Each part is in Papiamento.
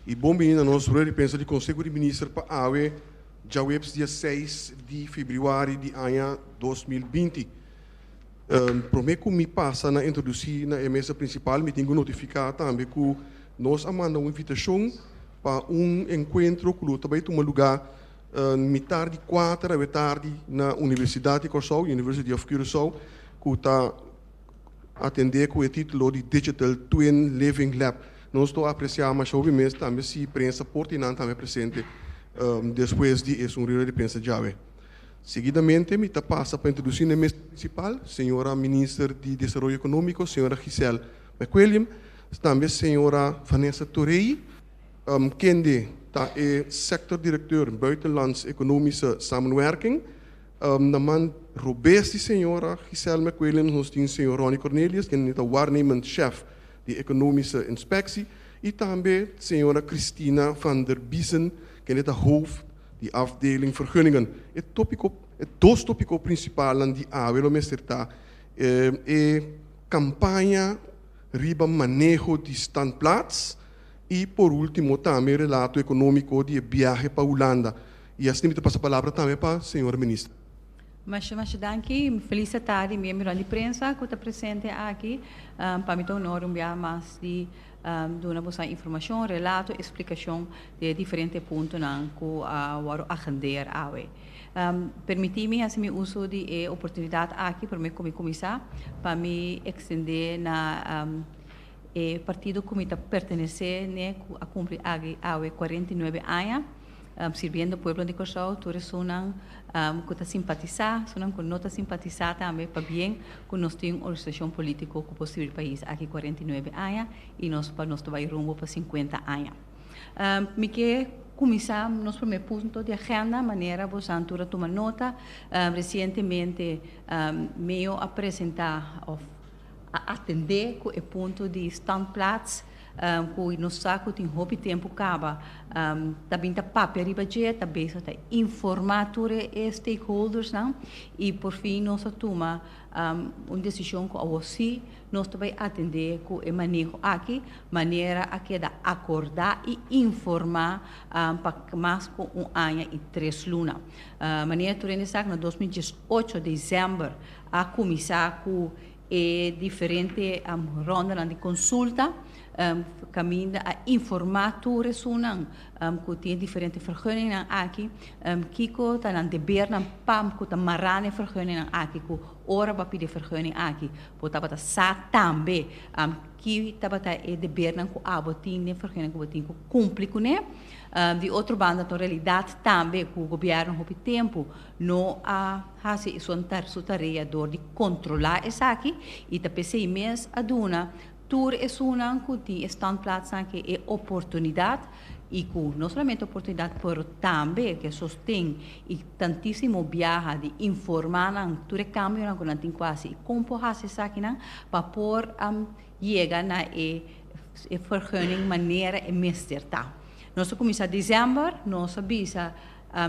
E bon bini na nos rueda di prensa di Conseho di Minister pa awe, djaweps dia seis di febrüari di aña dos mil binti. Prome ku mi pasa na introdusí na e mesa prinsipal, mi tin ku notifiká tambe ku nos a manda un invitashon pa un enkuentro ku lo ta bai tuma lugá mitar di kuater awe tardi na Universidat di Kòrsou, University of Curaçao, ku ta. Atendé ku e título di Digital Twin Living Lab. Nos lo apresiá masha hopi mes tambe si prensa por tin nan tambe presente despues di e sun rueda di prensa djawe. Seguidamente mi ta pasa pa introdusí n'e mesa prinsipal señora Minister di Desaroyo Ekonómiko, señora Giselle McWilliam, tambe señora Vanessa Torey, kende ta e Sector Directeur Buitenlands Economische Samenwerking, Na man robes di señora Gisèl McWilliams nos tin señor Ronnie Cornelius, kende e ta waarnemend shèf di ekonomische inspectie, i tambe señora Christina van der Biesen, kende ta hooft di afdeling vergunningen. E topiko, e dos topiko prinsipalnan di awe lo mester ta e kampaña riba maneho di standplaats i por último tambe e relato ekonómiko di e biahe pa Hulanda. I asina mi ta pasa palabra tambe pa señora minister. Masha masha danki. Feliz ta tardi miembronan di prensa cu ta presente aki. Pa mi ta honor un bia mas di duna boso informacion, relato, explicacion di e diferente puntonan cu a wordo agendeer awe. Permiti mi haci mi uso di e oportunidad aki prome cu mi cuminsa pa mi extende na e partido cu mi ta pertenece ne cu a cumpli aki awe cuarenta i nuebe aña. Sirbiendo pueblo di Kòrsou, tur esunnan ku ta simpatisá, esunnan ku no ta simpatisá tambe, pabien ku nos tin un organisashon polítiko ku por sirbi pais aki kuarenta i nuebe aña i nos pa nos ta bai rumbo pa sinkuenta aña. Mi ke kuminsá nos promé punto di agenda, manera bosan tur a tuma nota, resientemente Meo a presentá òf. a atendé ku e punto di standplaats ku nos sa ku tin hopi tempu kaba ta bin ta papia riba dje, ta bezig ta informá tur e stakeholdersnan i por fin nos a tuma un desishon ku awor sí nos ta bai atendé ku e maneho aki manera a keda akordá i informá pa mas ku un aña i tres luna. Manera tur rende sa ku na dos mil diesocho desèmber a kuminsá ku e diferente rondanan di konsulta kaminda a informá tur esunnan ku tin e diferente vergunningnan aki kiko ta nan debernan pa ku ta mará na e vergunningnan aki ku ora bo a pidi e vergunning aki bo tabata sa tambe ki tabata e debernan ku abo tin den e vergunning ku bo tin ku kumpli kuné. Di otro banda ta un realidat tambe ku gobièrnu hopi tempu No a hasi esun ta su tarea dor di controla esaki y ta p'esey mes a duna tur esunnan cu tin e standplaatsnan aki e oportunidad y cu no solamente oportunidad pero tambe cu e sosten y tantisimo biaha di informa nan tur e cambionan cu nan tin cu hasi y con por hasi esakinan pa por yega na e vergunning manera e mester ta. Nos a cuminsa December, nos a bisa.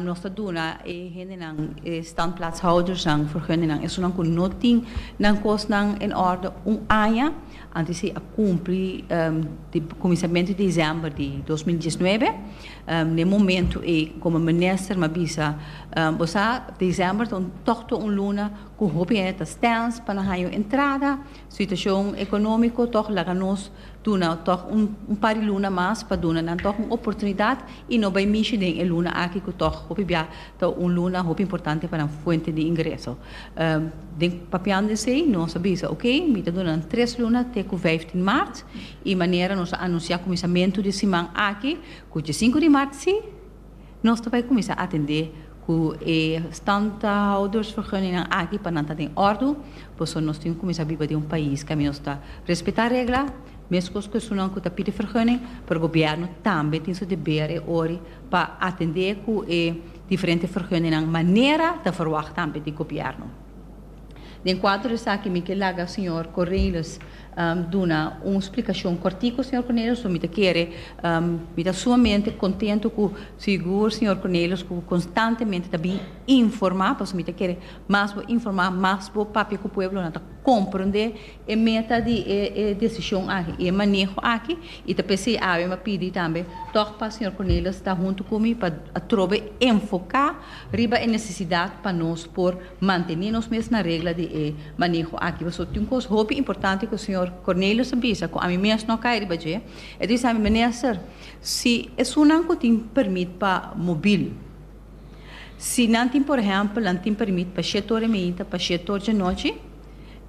Nos ta duna e hendenan, e standplaatshoudersnan, vergunningnan, esunnan ku no tin nan kosnan en òrdu un aña, antes di a kumpli di kuminsamentu di desèmber di dos mil diesnuebe. Den e momentu ei, komo minister m'ha bisa, bo sa, desèmber ta un tògtu, un luna ku hopi hende ta stens pa nan haña un entrada, Situashon ekonómiko tòg laga nos duna tòg un par di luna mas pa duna nan tòg un oportunidat i no bai mishi den e luna aki ku tòg hopi bia ta un luna hopi importante pa nan fuente di ingreso. Den papiando esei nos a bisa okey mi ta duna nan tres luna te ku vijftien mart i manera nos a anunsiá kuminsamentu di siman aki ku dje sinku di mart si, Nos ta bai kuminsá atendé ku e standhoudersvergunningnan aki pa nan ta den òrdu, pasobra nos tin ku kuminsá biba den un pais kami nos ta respetá regla, meskos ku esunnan ku ta pidi vergunning, pero gobièrnu tambe tin su deber e ori pa atendé ku e diferente vergunningnan manera ta verwagt tambe di gobièrnu. Den kuadro di esaki mi ke laga señor Cornelis duna un splikashon kòrtiku, señor Cornelis, so mi ta kere, mi ta sumamente kontentu ku sigur señor Cornelis ku konstantemente ta bin informá, pasobra mi ta kere mas bo informá, mas bo papia ku pueblonan ta komprondé e meta di e desishon aki i e maneho aki i ta p'esei awe mi a pidi tambe tòg pa señor Cornelis ta huntu ku mi pa atrobe enfoká riba e nesesidat pa nos por Manteni nos mes na regla di e maneho aki. Pasobra tin un kos hopi importante ku señor Cornelius a bisa ku ami mes no a kai riba dje. E ta bisa ami, Meneester, si esunnan ku tin permit pa mobil, si nan tin por ehèmpel, nan tin permit pa shèt ora meinta, pa shèt ora djanochi,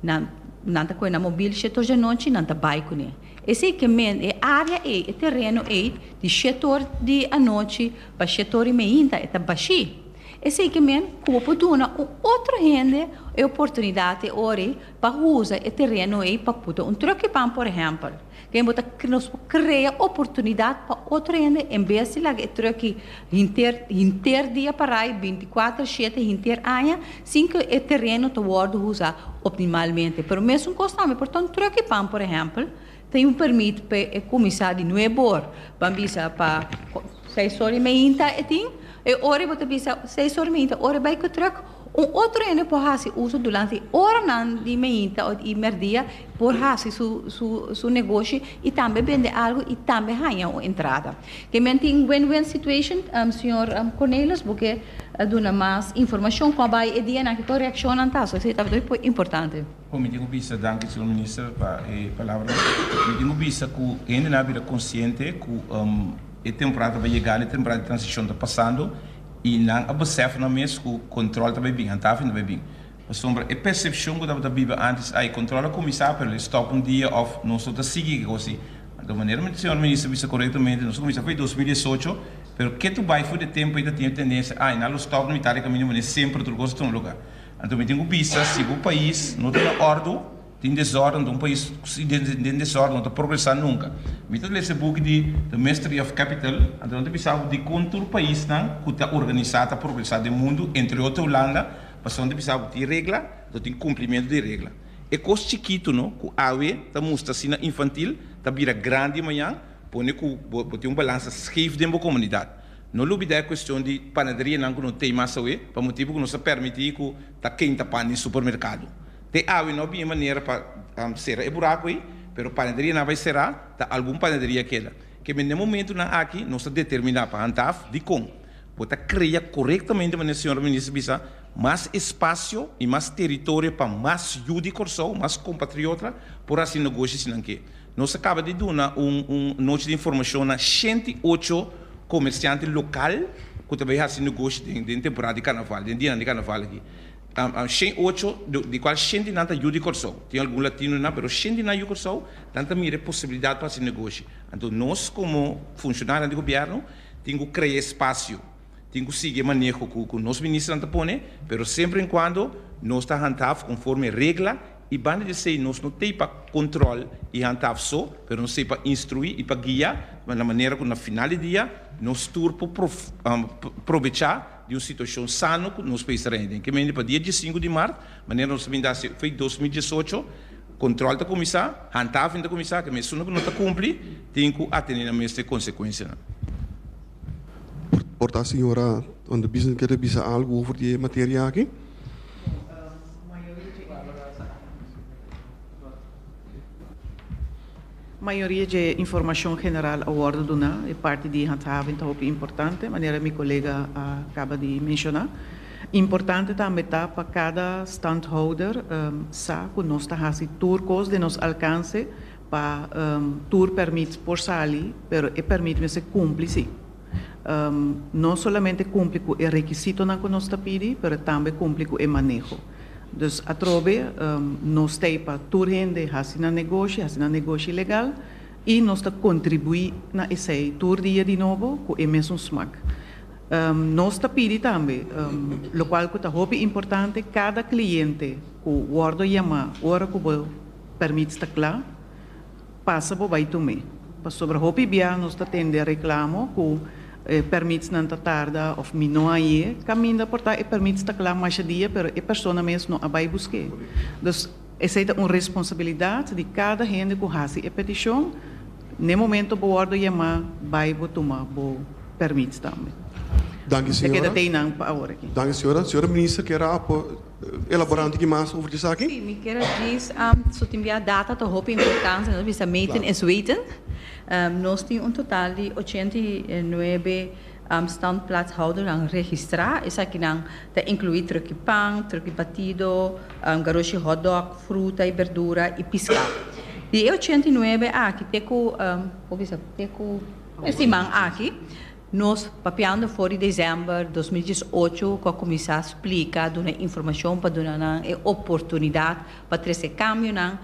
nan nan ta kohe nan mobil shèt ora djanochi, nan ta bai kuné. Esei ke men, e área ei, e tereno ei, di shèt ora di anochi pa shèt ora i meinta e ta bashí. Esei ke men ku bo por duna un otro hende e oportunidat e ora ei pa usa e tereno ei pa puta un tròkipan, por ehèmpel. Kende bo ta nos por krea oportunidat pa otro hende en bes di laga e tròki hinter hinter dia parai binti kuater shete hinter aña sin ku e tereno ta wòrdu usa optimalmente. Pero mesun kos tambe por ta un tròkipan, por ehèmpel, Tin un permit p'e kuminsá di nuebu or ban bisa pa seis or i meinta e tin e ora bo ta bisa seis or i meinta ora bai ku trùk un otro hende por hasi uso durante oranan di meinta o di merdia por hasi su su su negoshi i tambe bende algu i tambe haña un entrada ke men tin win win situation señor Cornelius bo ke duna mas informashon kon a bai e dianan kiko reakshonnan ta so esei ta por importante. Bon mi tin cu bisa, danki señor minister pa e palabra, mi tin cu bisa cu e hendenan a bira consciente cu e temporada ta bay yega and e temporada di transicion ta pasando y nan a besef nan mes cu control ta bay bin, antafen ta bay bin, pasobra e percepcion cu tabata biba antes, ay control a cuminsa pero lo stop un dia of nos lo ta sigui ki cos asin, anto manera mi señor minister bisa correctamente nos a cuminsa fo'i dos mil diesocho pero ketu bay for di e tempo ey ta tin e tendencia ay nan lo stop na mitad di camino mane semper otro cos ta tuma lugar. Anto mi tin ku bisa, si bo pais no ta na ordu, tin desorden, un pais den desorden no ta progresá nunka. Mi ta lesa e buki di The Mystery of Capital, anto nan ta bisa bo dikon tur paisnan ku ta organisá ta progresá den mundu, entre otro Hulanda, pasobra nan ta bisa bo tin regla, anto tin kumplimentu di e regla. E kos chikitu no ku awe ta mustra asina infantil ta bira grandi mañan, pone ku bo tin un balansa skef den bo komunidat. No lubida e cuestion di panaderianan cu no t'ey mas awe, pa motibu cu nos a permiti cu ta kenta pan den supermercado. T'e awe no a bini manera pa cera e buraco ey, pero panaderianan bay cera, ta algun panaderia keda. Keme n'e momentonan aki nos a determina pa handaf dicon bo ta crea corectamente manera Señora Minister bisa, mas espacio y mas teritorio pa mas yu di Corsou, mas compatriota por haci negoshi si nan ke. Nos a kaba di duna un un nochi di informashon na shenti i ocho komersiante lokal ku ta bai hasi negoshi den den temporada di karnaval, den dianan di karnaval aki. Shen i ocho di kual shenti nan ta yu di Kòrsou. Tin algun latino nan pero shenti nan yu Kòrsou, nan ta mira e posibilidat pa hasi negoshi. Anto nos komo funshonarionan di gobièrnu tin ku krea e spasio, tin ku sigui e maneho ku ku nos ministronan ta pone, pero semper en kuando nos ta handhaf konforme e regla, I banda di esei nos no ta ei pa control i handhaf so, pero nos ta ei pa instrui i pa guia na manera cu na final di dia nos tur por probecha di un situacion sano cu nos pais ta reni den. Kemende pa dia diesinku di mart, manera nos a bin da si fei dos mil diesocho, control ta cuminsa, handhaving ta cuminsa, kemende sunda cu no ta cumpli tin cu a tene nan mester consecuencianan. Por ta señora Van der Biesen quiere bisa algo over di e materia aki? Mayoria dje informashon general a wòrdu duná. E parti di handhaving ta hopi importante, manera mi kolega a kaba di menshoná. Importante tambe ta pa kada standhouder sa ku nos ta hasi tur kos den nos alkanse pa tur pèrmit por sali, pero e pèrmit mester kumpli sí. no solamente cumpli cu e requisitonan cu nos ta pidi, pero tambe cumpli cu e maneho. Dus atrobe nos ta ey pa tur hende haci nan negoshi, haci nan negoshi legal y nos ta contribui na esey tur dia di nobo cu e mesun smak. Nos ta pidi tambe, locual cu ta hopi importante, cada cliente cu wordo yama ora cu bo permits ta cla, Pasa bo bai Tumé. Pasobra hopi bia nos ta tende reklamo ku e pèrmitsnan ta tarda òf mi no a ye kaminda por ta e pèrmits ta kla masha dia pero e persona mes no a bai busk'é. Dus esei ta un responsabilidat di kada hende ku hasi e petishon, n'e momento bo wòrdu yamá bai bo tuma bo pèrmits tambe. Danki señora. Keda tei nan pa awor aki. Danki señora. Señora Minister kera apo Elabora un tiki mas over esaki. Si, mi kier a djis su tin bia data ta hopi importante, nos bisa meten is weten. Nos tin un total di ochenta i nuebe standplaatshoudernan registrá. Esakinan ta incluí truki pan, truki batido, garoshi hotdog, fruta i berdura i piská. Di e ochenta i nuebe aki te ku, por bisa, te ku e siman aki, Nos papiando for di december dos mil dies ocho cu a cuminsa splica, duna informacion pa duna nan e oportunidad pa trece e cambionan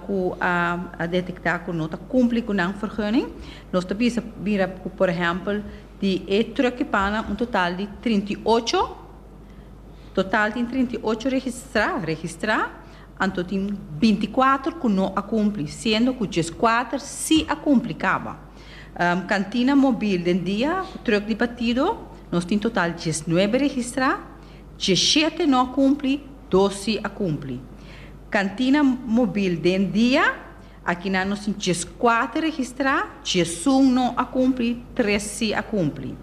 cu a detecta cu no ta cumpli cu nan vergunning. Nos ta bisa mira cu por ehempel di e truckipannan un total di trinta i ocho, total tin trinta i ocho registra, registra, anto tin binti cuatro cu no a cumpli, siendo cu diescuater si a cumpli caba. Kantina mobil den dia ku trùk di batido, nos tin total diesnuebe registrá, diesshete no a kumpli, dos si a kumpli. Kantina mobil den dia, aki nan nos tin dieskuater registrá, diesun no a kumpli, tres si a kumpli.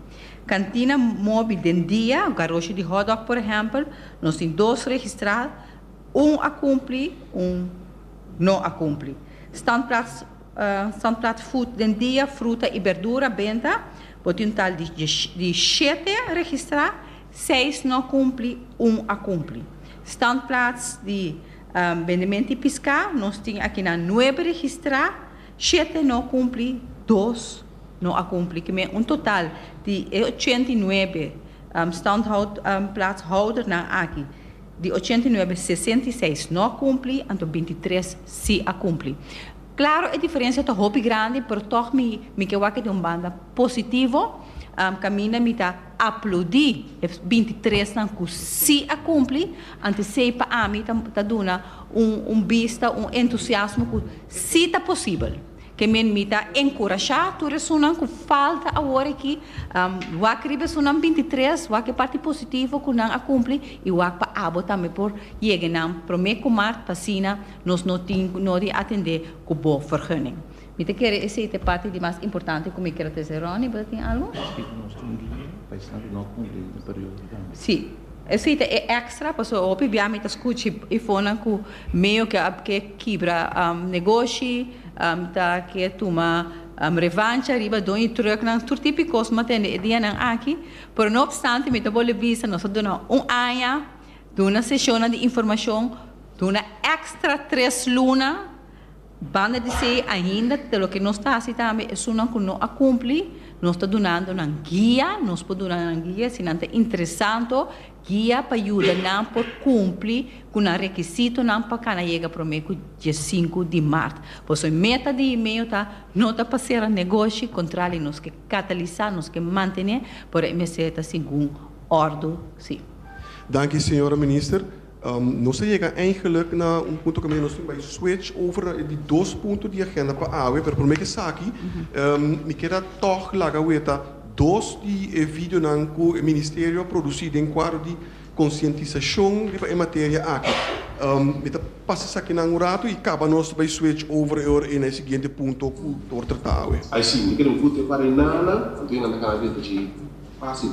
Kantina mobil den dia, garoshi di hotdog por ehèmpel, nos tin dos registrá, un a kumpli, un no a kumpli. Standplaats San Platfood den dia fruta i berdura benta bo tin un total di shete registra, seis no kumpli, un a kumpli. Standplaats di bendimenti i piská nos tin akinan nuebe registrá, shete no kumpli, dos no a kumpli. Kimen un total di e ochenta i nuebe standhoud plaatshoudernan aki Di ochenta i nuebe, sesenta i seis no a kumpli, anto binti i tres si a kumpli. Klaro e diferensia ta hopi grandi, pero tòg mi mi ke wak e den un banda positivo, kaminda mi ta aplodí e binti i tresnan ku si a kumpli, anto esei pa ami ta ta duna un un bista, un entusiasmo ku si ta posibel. Ke men mi ta enkurashá tur esunnan ku falta awor aki, wak riba esunnan bintitres, wak e parti positivo ku nan a kumpli i wak pa abo tambe por yega nan promé ku mart pa asina nos no tin ku no di atendé ku bo vergunning. Mi ta kere esei ta e parti di mas importante ku mi keda ta esei. Ronnie, bo ta tin algu? Si, Esei ta e extra pasobra hopi bia mi ta scuchi ifonnan cu meo ke ke kibra negoshi, mi ta ke tuma revancha riba doño trucknan, tur tipi cos mi ta tende e dianan aki, pero no obstante mi ta bolbe bisa nos ta duna un aña, duna sesionnan di informacion, duna extra tres luna, Banda di esei ainda te loke nos ta hasi tambe esunnan ku no a kumpli, nos ta dunando nan guia, nos por duna nan guia si nan ta interesanto, guia pa yuda nan por kumpli ku nan rekisitonan pa kana yega promé ku diesinku di mart. Por eso e meta di email ta no ta pa sera negoshi, kontrali nos ke katalisá, nos ke mantené, pero e mester ta segun ordu si. Danki señora minister. Nos a yega eigenlijk na un punto ku mi wens nos tin bai switch over na di dos punto di agenda pa awe, pero prome ke esaki mi kier a tòg laga weta dos di e videonan ku e Ministerio a produsi den kuadro di konsientisashon riba e materia aki. Mi ta pasa esakinan un ratu i kaba nos ta bai switch over e ora ei na e siguiente punto ku por tratá awe. Ai si, mi ta kere un kute para e nana, anto e nan ta kana di e tachi fásil.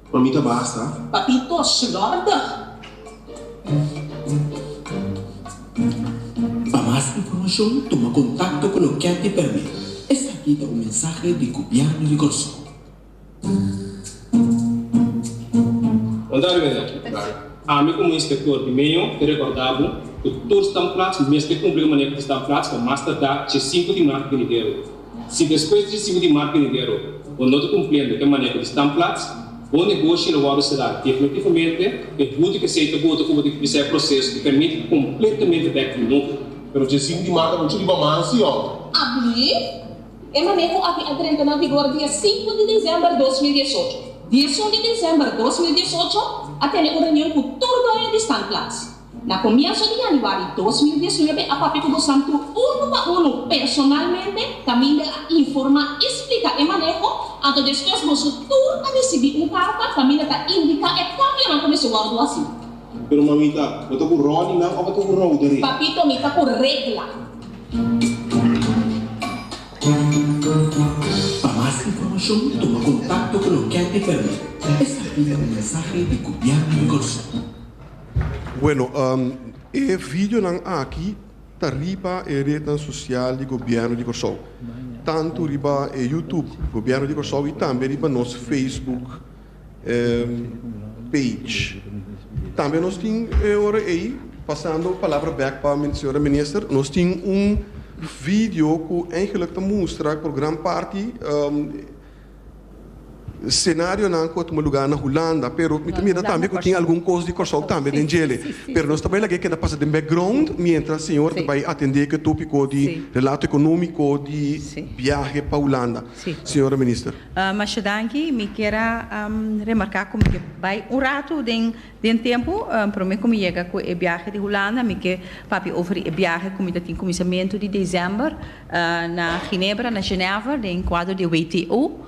Pa mi ta basta. Papitos Lordig. Pa mas informacion tuma contacto cu lo Cathy Perme. Esaki ta un mensahe di Gobierno di Corsow. Bon tarde mester aki. Ami como inspector di meon te recorda bo cu tur standplaats mester cumpli cu manera di standplaats pa mas tarda dje sinku di maart venidero. Si despues di e singu di març di enero bo no ta cumpliendo cu e maneho di Standplaats, bo negoshi lo worde cerá definitivamente. E huurder cu esey ta bo ta cumpli cu bisa e proces cu permit cu completamente bek di nuvo. Pero dje singu di març ta muchu riba maña, si o no? Abli, E maneho aki a drenta na vigor di e singu di december dos mil diesocho. Di e su di december dos mil diesocho a tene un reunion cu tur doño di Standplaats. Na comienso di Januari dos mil dies nuebe a papia cu bo santu uno pa uno personalmente, ta Mindel a informa y splica e maneho, anto despues boso tur a ricibi un carta pa Mindel ta indica e cambionan cu mester wordo haci. Pero mamita, bo ta cu Ronnie nan of bo ta cu Roderick? Papito, mi ta cu Regla. Pa mas informacion tuma contacto cu lo Cathy Perry, escribi na un mensahe di Gobierno di Kòrsou. Bueno, e videonan aki ta riba e retnan sosial di Gobièrnu di Kòrsou. Tantu riba e YouTube Gobièrnu di Kòrsou i tambe riba nos Facebook page. Tambe nos tin e ora ei, pasando palabra bèk pa señora Minister, nos tin un video ku eigenlik ta mustra ku gran parti Scenarionan cu a tuma lugar na Hulanda, pero mi ta mira tambe cu tin algun cos di Corsou tambe den djele. Pero nos ta bay laga e keda pasa den background mientras Señor ta bay atende cu e topico di relato economico di biahe pa Hulanda. Señora Minister. Masha danki. Mi kier a remarca cu mi ke bay un rato den den tempo. Prome cu mi yega cu e biahe di Hulanda mi ke papia over e biahe cu mi ta tin cuminsamentu di december. Na Ginebra, na Genève, den kuadro di WTO.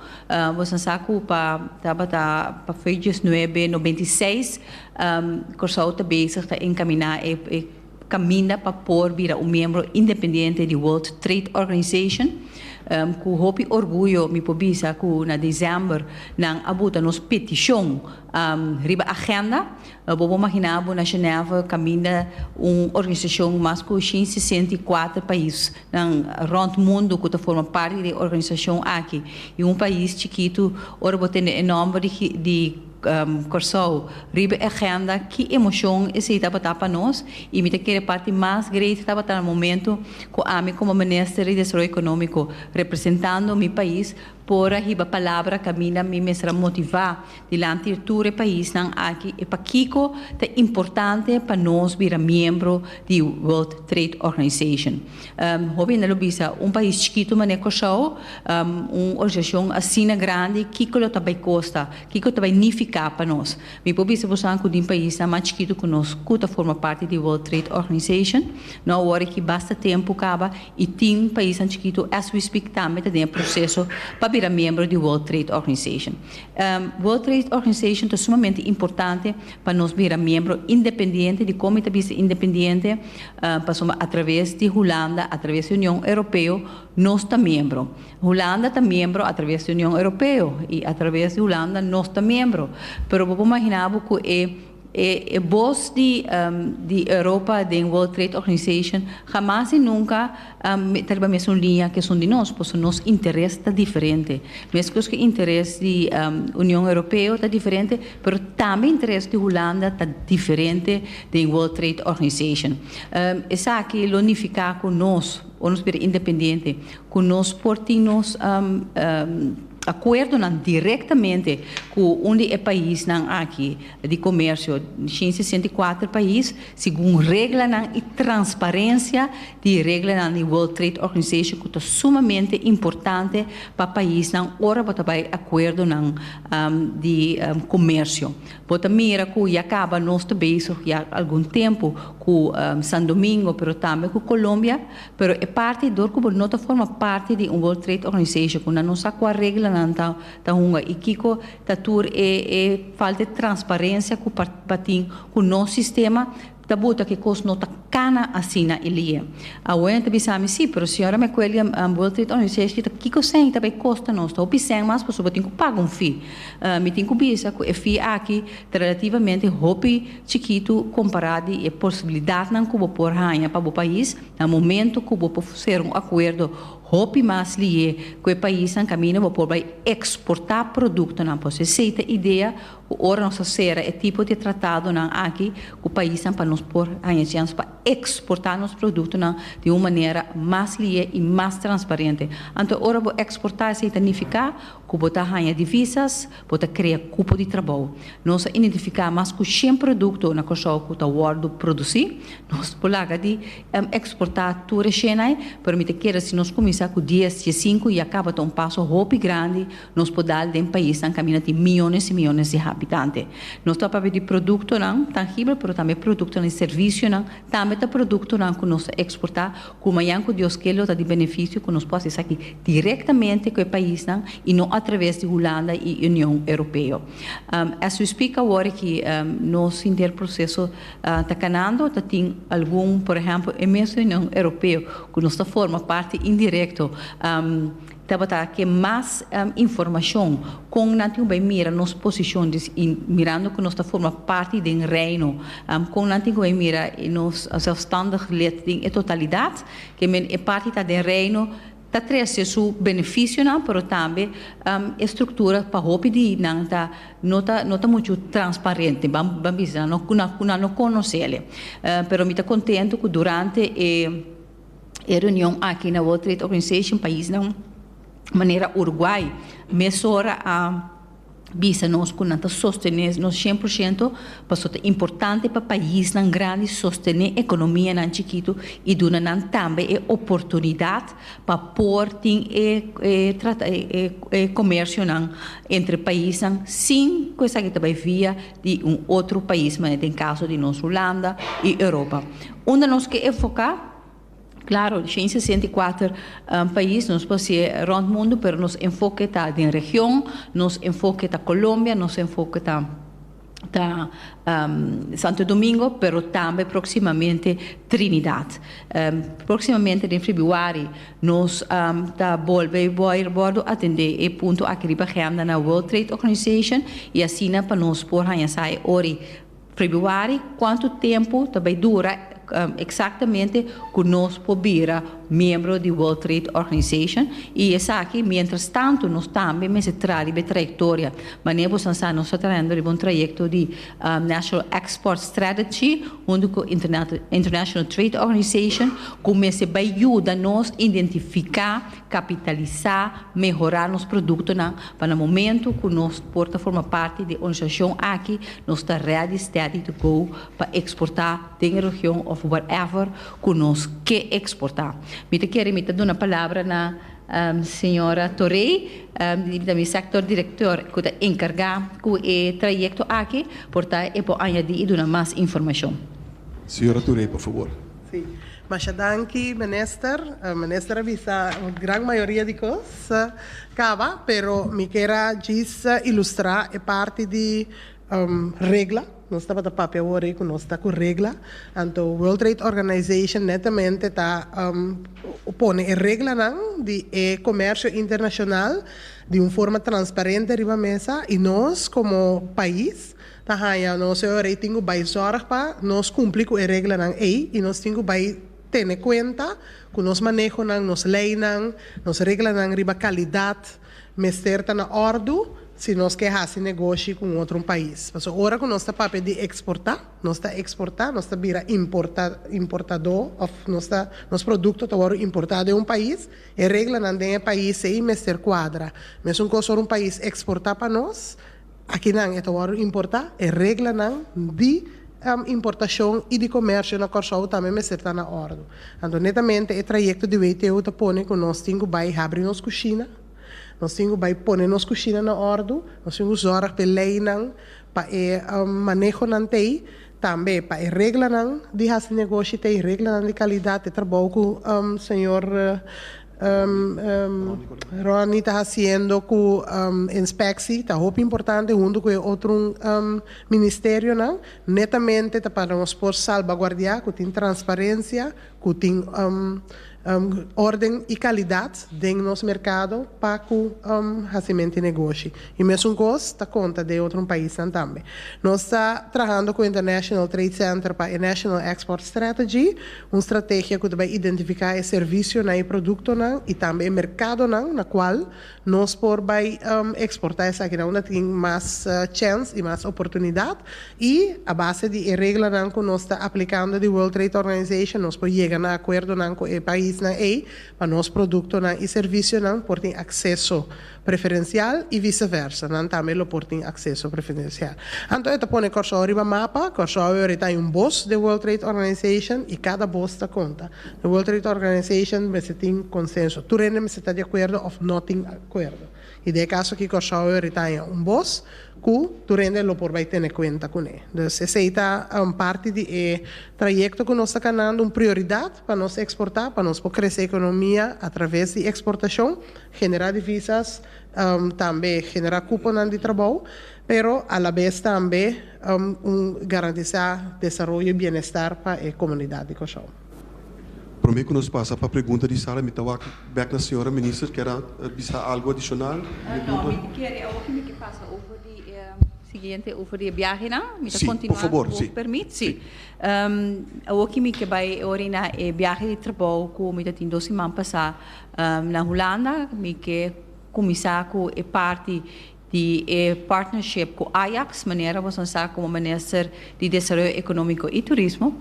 Nos a sa ku pa tabata pa fei diesnuebe nobenta i seis Kòrsou ta bezig ta enkaminá e kaminda pa por bira un miembro independiente di World Trade Organization. Ku hopi orguyo mi por bisa ku na desèmber nan a buta nos petishon riba agenda. Bo por maginá bo na Genève kaminda un organisashon mas ku shin sesenta i kuater paisnan rònt mundu ku ta forma parti di e organisashon aki. I un pais chikitu, ora bo tende e nòmber di di Kòrsou riba e agenda, ki emoshon esei tabata pa nos? I mi ta kere parti mas great tabata na momentu ku ami komo Minister di Desaroyo Ekonómiko, representando mi pais, por a hiba palabra kaminda mi mester a motivá Dilanti di tur e paisnan aki e pakiko ta importante pa nos bira miembro di World Trade Organization. Hopi hende lo bisa, un pais chikitu manera Kòrsou, un organisashon asina grandi, kiko lo ta bai kosta, kiko ta bai nifiká pa nos? Mi por bisa boso ku den paisnan mas chikitu ku nos ku ta forma parti di World Trade Organization, no awor aki basta tempu kaba i tin paisnan chikitu as we speak tambe ta den e proseso pa bira miembro di World Trade Organization. World Trade Organization ta sumamente importante pa nos bira miembro independiente di como e ta bisa independiente, pasobra a traves di Hulanda, a traves di Union Europeo nos ta miembro. Hulanda ta miembro a traves di Union Europeo y a traves di Hulanda nos ta miembro. Pero bo por imagina bo cu e E bos di di Europa den World Trade Organization hamas y nunca ta riba mesun liña cu esun di nos, pasobra nos interes ta diferente. Mescos cu interes di Union Europeo ta diferente, pero tambe interes di Hulanda ta diferente den World Trade Organization. Esaki lo nifica cu nos, ora nos bira independiente, cu nos por tin nos acuerdonan directamente cu un di e paisnan aki di comercio, shin sesenta i kuater pais, segun reglanan y transparencia di reglanan di World Trade Organization cu ta sumamente importante pa paisnan ora bo ta bay acuerdonan di comercio. Bo ta mira cu ya caba nos ta bezig ya algun tempo cu San Domingo pero tambe cu Colombia, Pero e parti dor ku bo no ta forma parti di un World Trade Organization ku nan no sa kua reglanan ta ta hunga i kiko ta tur e e falta di transparencia ku pa batin ku nos sistema ta buta ku e kos no ta kana asina e lie. Awor nan ta bisa mi si, pero señora McQuelly a World Trade Organization ki ta kiko sen ta bay kosta nos ta hopi sen mas paso bo tin ku paga un fee. Mi tin ku bisa ku e fee aki ta relativamente hopi. chikitu kompará di e posibilidatnan ku bo por haña pa bo pais na momentu ku bo por ser un akuerdo hopi mas lié ku e paisnan kaminda bo por bai eksportá produktonan pues esei ta idea ku ora nos ta sera e tipo di tratadonan aki ku paisnan pa nos por haña chèns pa eksportá nos produktonan di un manera mas lié i mas transparente anto ora bo eksportá esei ta nifiká. Ku bo ta haña divisas, bo ta krea kupo di trabou. Nos a identifiká mas ku shen produkto na Kòrsou ku ta wòrdu produsí. Nos por laga di eksportá tur e shenai, pero mi ta kere si nos kuminsá ku dies cié sinku ya kaba ta un paso hopi grandi nos por dal den paisnan kaminda tin miónes i miónes di habitante. Nos ta papia di produktonan tangibel pero tambe produktonan di servisionan tambe ta produktonan ku nos ta eksportá Ku mañan ku Dios ke lo ta di benefisio ku nos por hasi esaki direktamente ku e paisnan i no atraves di Hulanda i Union Europeo. As we speak awor aki nos interproseso ta kanando, ta tin algun, por ehèmpel e mes Union Europeo ku nos ta forma parti indirekto, Tabata ke mas informashon kon nan tin ku bai mira nos posishon mirando ku nos ta forma parti den Reino, kon nan tin ku bai mira nos zelfstandig lid den e totalidat, ke men e parti ta den Reino, ta trese su benefisionan pero tambe e struktura pa hopi di nan ta no ta no ta muchu transparente, ban ban bisa nan ku nan no konosele. Pero mi ta kontentu ku durante e e reunion aki na World Trade Organization paisnan manera Uruguay mesora a bisa nos ku nan ta sostene nos shen por shento pasobra ta importante pa paisnan grandi sostene ekonomianan chikitu i duna nan tambe e oportunidat pa por tin e e komersionan entre paisnan sin ku esaki ta bai via di un otro pais manera den kaso di nos Hulanda i Europa. Unda nos ke enfoká? Klaro, den e sesenta i kuater pais, nos pas'é rònt mundu, pero nos enfoke ta den region, nos enfoke ta Colombia, nos enfoke ta ta Santo Domingo, pero tambe próksimamente Trinidad. Próksimamente den febrüari nos ta bolbe bòr bòrdu atendé e punto aki riba hèmda na World Trade Organization i asina pa nos por haña sa e ora i Februari, Kuantu tempu ta bai dura eksaktemente ku nos por bira miembro di World Trade Organization? I esaki mientras tantu nos tambe mester traha riba e trayektoria. Manera boso a sa nos ta trayendo riba un trayekto di National Export Strategy huntu ku International Trade Organization ku mester bai yuda nos identifiká Kapitalisá, mehorá nos produktonan pa na momentu ku nos por ta forma parti di organisashon aki nos ta ready, steady to go pa eksportá den e region òf whatever ku nos ke eksportá. Mi ta kere mi ta duna palabra na señora Torey, mi ta mi sector director ku ta enkargá ku e trayekto aki, por ta e por añadí i duna mas informashon. Señora Torey, por fabor. Sí. Masha danki minister. Minister a bisa un gran mayoria di cos caba, pero mi kier a djis ilustra e parti di regla. Nos tabata papia awor ei cu nos ta cu regla, anto World Trade Organization netamente ta pone e reglanan di e comercio internacional di un forma transparente riba mesa y nos como pais, Ta haña nos e ora y tin cu bay zorg pa nos cumpli cu e reglanan ey y nos tin cu bay tene cuenta cu nos manehonan, nos leynan, nos reglanan riba calidad mester ta na ordu si nos ke haci negoshi cu un otro pais. Pasobra ora cu nos ta papia di exporta, nos ta exporta, nos ta bira importa, importado of nos ta, nos producto ta wordo importa den un pais, e reglanan den e pais ey mester cuadra. Mesun cos ora un pais exporta pa nos, Akinan e ta wòrdu importá. E reglanan di importashon i di komèrsio na Kòrsou tambe mester ta na òrdu. Anto netamente e trayekto di WTO ta pone ku nos tin ku bai habri nos kushina, nos tin ku bai pone nos kushina na òrdu, nos tin ku zòrg pa e leinan, pa e manehonan t'ei, tambe pa e reglanan di hasi negoshi t'ei, reglanan di kalidat, e trabou ku señor Ronnie ta hasiendo ku inspeksi ta hopi importante huntu ku e otro ministerionan netamente ta pa nos por salbaguardiá ku tin transparensia ku tin órden i kalidat den nos merkado pa ku hasimenti negoshi i mesun kos ta konta den otro paisnan tambe. Nos ta trahando ku International Trade Center pa e National Export Strategy Un strategia cu ta bay identifica e servicionan, e productonan y tambe e mercadonan na cual nos por bay exporta esakinan unda tin mas chens y mas oportunidad y a base di e reglanan cu nos ta aplicando di World Trade Organization nos por yega na acuerdonan cu e paisnan ey pa nos productonan y servicionan por tin acceso preferencial y vice versa, nan tambe lo por tin acceso preferencial. Anto e ta pone Corsou riba mapa, Corsou awe orita hay un bos de World Trade Organization y cada bos ta conta. De World Trade Organization mester tin consenso, tur hende mester ta di acuerdo of no tin acuerdo. Y den e caso aki Corsou awe orita hay un bos cu tur hende lo por bay tene cuenta cu ne. Dus esey ta un parti di e trayecto cu nos ta canando un prioridad pa nos exporta, pa nos por crece economia a traves di exportacion Generá divisas, tambe generá kuponan di trabou, pero alabes tambe un garantisá desaroyo i bienestar pa e komunidat di Kòrsou. Promé ku nos pasa pa pregunta di sala mi ta wak bèk na señora minister kier a bisa algu adishonal? No, mi tin kere awopi mi ke pasa over di e siguiente over di e biahenan. Mi ta kontinuá ku wòk permit. Sí, por favor. Sí. Awoki mi ke bai oriná e biahe di trabou ku mi ta tin dos siman pasá Na Hulanda mi ke kuminsá ku e parti di e partnership ku Ajax, manera boso a sa komo Minister di Desaroyo Ekonómiko i Turismo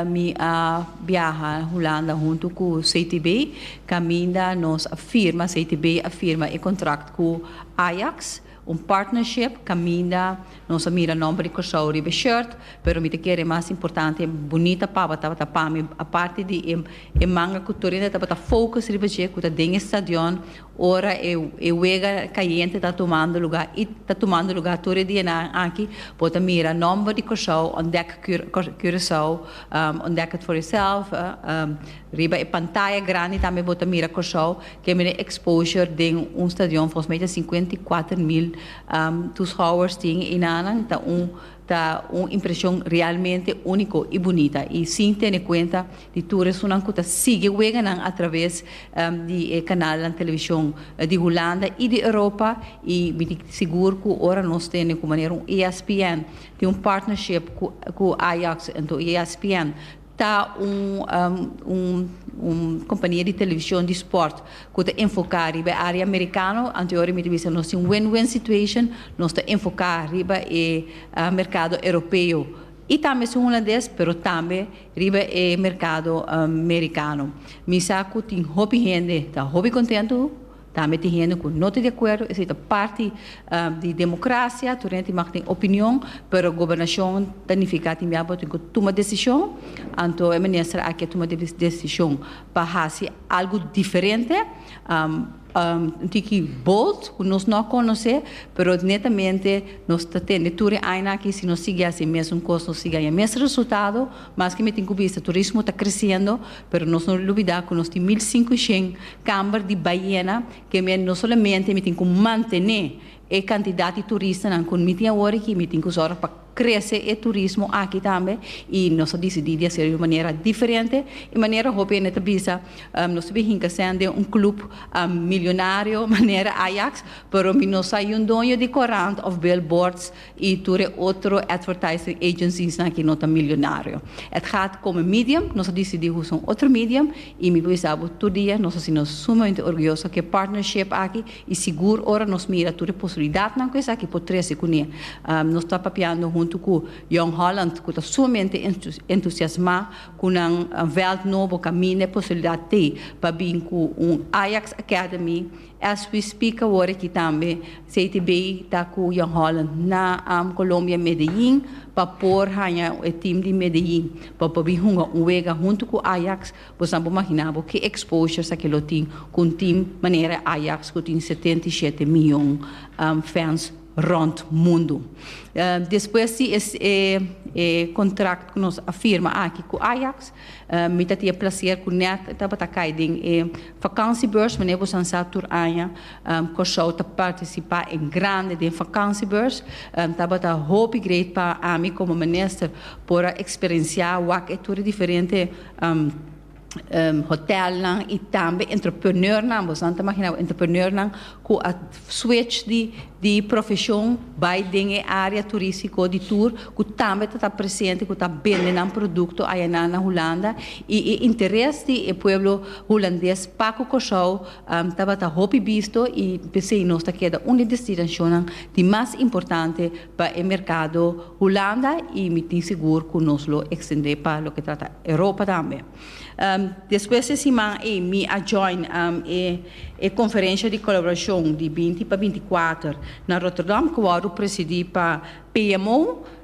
mi a biaha Hulanda huntu ku CTB kaminda nos a firma, CTB a firma e kontrakt ku Ajax. Un partnership caminda nos a mira nomber di Curaçao riba e shirt, pero mi ta kere e mas importante e bunita papa tabata pa mi, aparte di e manga cu tur hende tabata focus riba dje cu ta den e stadion ora e wega cayente ta tumando lugar y ta tumando lugar tur e dianan aki, bo ta mira nomber di Curaçao, ontdek Curaçao, ontdek het voor jezelf. Riba e pantaya grandi tambe bo ta mira Kòrsou kende den exposure den un stadion, volgens mij ta sinkuenta i kuater mil tushouwers tin i na nan ta un ta un impreshon realmente úniko i bunita i sin tene kuenta di tur e sunan ku ta sigui wega nan atraves di e kanalnan televishon di Hulanda i di Europa i mi ta sigur ku ora nos tene ku manera un ESPN tin un partnership ku ku Ajax enton ESPN Ta un kompania di televishon di sport ku ta enfoká riba e área merikano. Anteori mi ta bisa nos tin win-win situation. Nos ta enfoká riba e merkado Europeo i tambe su Hulandes, pero tambe riba e merkado merikano. Mi sa ku tin hopi hende ta hopi kontentu. Tambe tin hende cu no ta di acuerdo, esey ta parti di democracia, tur hende mag tin opinion, pero gobernacion ta nifica tin biaha bo tin cu tuma decision, anto e minister aki a tuma decision pa haci algo diferente, un tiki bold cu nos no a conoce, pero netamente nos ta tende tur e añanan aki si nos sigui haci e mesun cos, nos sigui haña e mes resultado, maske mi tin cu bista turismo ta creciendo, Pero nos no lubidá ku nos tin mil sinku shen kamber di baiena ke mi a no solamente mi tin ku mantené e kantidat di turistanan ku mi tin awor aki, mi tin ku sòrg pa krese e turismo aki tambe i nos a disidí di hase'l di un manera diferente i manera hopi hende ta bisa nos ta bin hinka sèn den un klup milionario manera Ajax pero mi no sa i un doño di korant òf bilbòrds y tur e otro advertising agencies nan aki no ta milionario. Et gaat come medium, nos a dicidi usa un otro medium y mi bisa bo tur dia nos a sino sumamente orguyoso cu e partnership aki y sigur ora nos mira tur e posibilidadnan cu esaki por trece cune. Nos ta papiando hunto cu Jong Holland cu ta sumamente entusiasma cu nan veld nobo caminda e posibilidad t'ey pa bin cu un Ajax Academy As we speak awor aki tambe Seiti bay ta cu Jan Holland na am Colombia Medellin pa por haña e team di Medellin pa por bin hunga un wega hunto cu Ajax bos nan por magina bo ki exposure sa ke lo tin cu un team manera e Ajax cu tin setenta i shete mion fans rond mundo despues di e contract cu nos a firma aki cu Ajax. Mi ta tin e placer cu net tabata cay den e vakantiebeurs, manera bo san sa tur aña Curaçao ta participa en grande den vakantiebeurs. Tabata hopi great pa ami como minister por a experiencia wak e tur e diferente hotelnan y tambe entrepreneurnan, bosan ta imaginabo entrepreneurnan cu a. Switch di profesion bay den e area turistico di tur cu tambe ta ta presente cu ta bende nan producto ayanan na Hulanda y e interes di e pueblo Hulandes pa cu Corsou tabata hopi bisto y pesey nos ta keda un di destinacionnan di mas importante pa e mercado Hulanda y mi tin sigur cu nos lo extende pa loke trata Europa tambe. Despues e siman ei mi a join e conferencia di colaboracion di binti pa binticuater na Rotterdam cu wordo presidi pa PMO.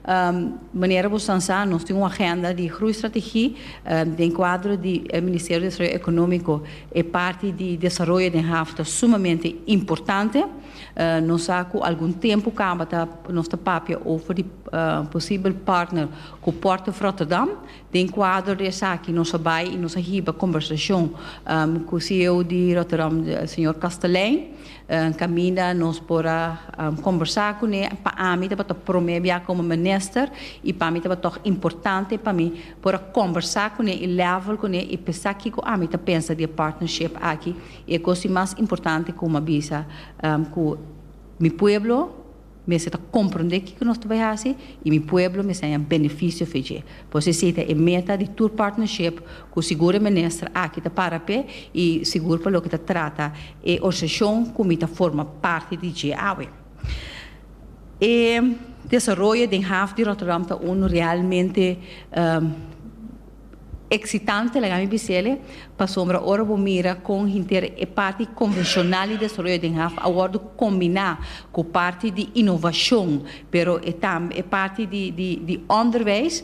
Manera bo san sa nos tin un agenda di groeistrategie den cuadro di e Ministerio di Desarrollo Economico. E parti di desaroyo den haf ta sumamente importante. Nos sa cu algun tempo caba nos ta papia over di posibel partner cu Port of Rotterdam. Den kuadro di esaki nos a bai i nos a hiba kombersashon ku CEO di Rotterdam, señor Kastelein. Kaminda nos por a kombersá kuné, pa ami tabata promé biaha komo minister i pa mi taba tòg importante pa mi por a kombersá kuné i lèvel kuné i p'esaki kiko ami ta pensa di e partnership aki i e kos di mas importante ku mi a bisa ku mi pueblo, Mester ta komprondé kiko nos ta bai hasi i mi pueblo mester haña benefisio for dje. Por esei si ei ta e meta di tur partnership ku sigur e minister aki ta para p'e i sigur pa loke ta trata e orsashon ku mi ta forma parti di dje awe. E desaroyo den haf di Rotterdam ta unu realmente. Eksitante laga mi bis'é el e, pasobra ora bo mira kon henter e parti konvenshonal di desaroyo den haf a wòrdu kombiná ku parti di inovashon, pero e tambe e parti di di di ònderwijs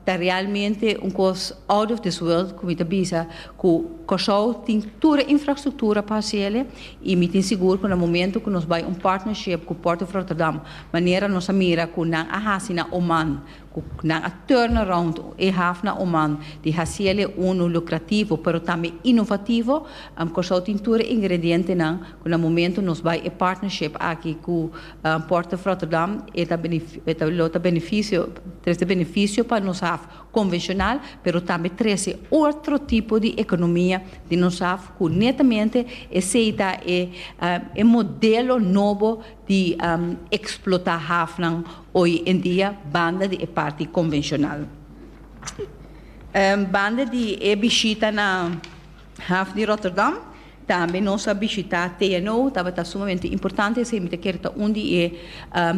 ta realmente un kos out of this world ku mi ta bisa ku Kòrsou tin tur e infrastruktura pa hasi el e i mi tin sigur ku na momento ku nos bai un partnership ku Port of Rotterdam manera nos a mira ku nan a hasi na Oman cu nan a turn around e hafna human di haciele uno lucrativo pero tambe innovativo, am Curaçao tin tur e ingredientenan cu na momento nos bay e partnership aki cu Port of Rotterdam e ta e ta lo ta beneficio trece beneficio pa nos haf convencional pero tambe trece otro tipo di economia den nos haf cu netamente esey ta e e modelo nobo di eksplotá hafnan oy en dia banda di e parti konvenshonal. Banda di e bishita na haf di Rotterdam, tambe nos a bishitá TNO, tabata sumamente importante, esei mi ta kere ta un di e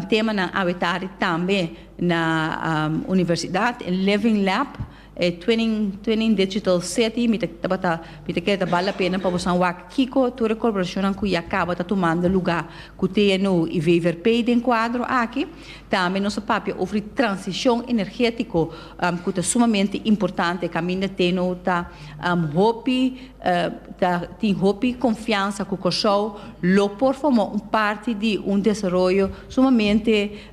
temanan awe tari tambe na universidat, e Living Lab. E Twinning Twinning Digital City mi ta tabata mi ta kere ta bal la pena pa boso a wak kiko tur e corporacionnan cu ya caba ta tumando luga cu TNO y VVRP den cuadro aki. Tambe nos a papia ofri transicion energetico cu ta sumamente importante caminda TNO ta hopi ta tin hopi confiansa cu Corsou lo por forma un parti di un desaroyo sumamente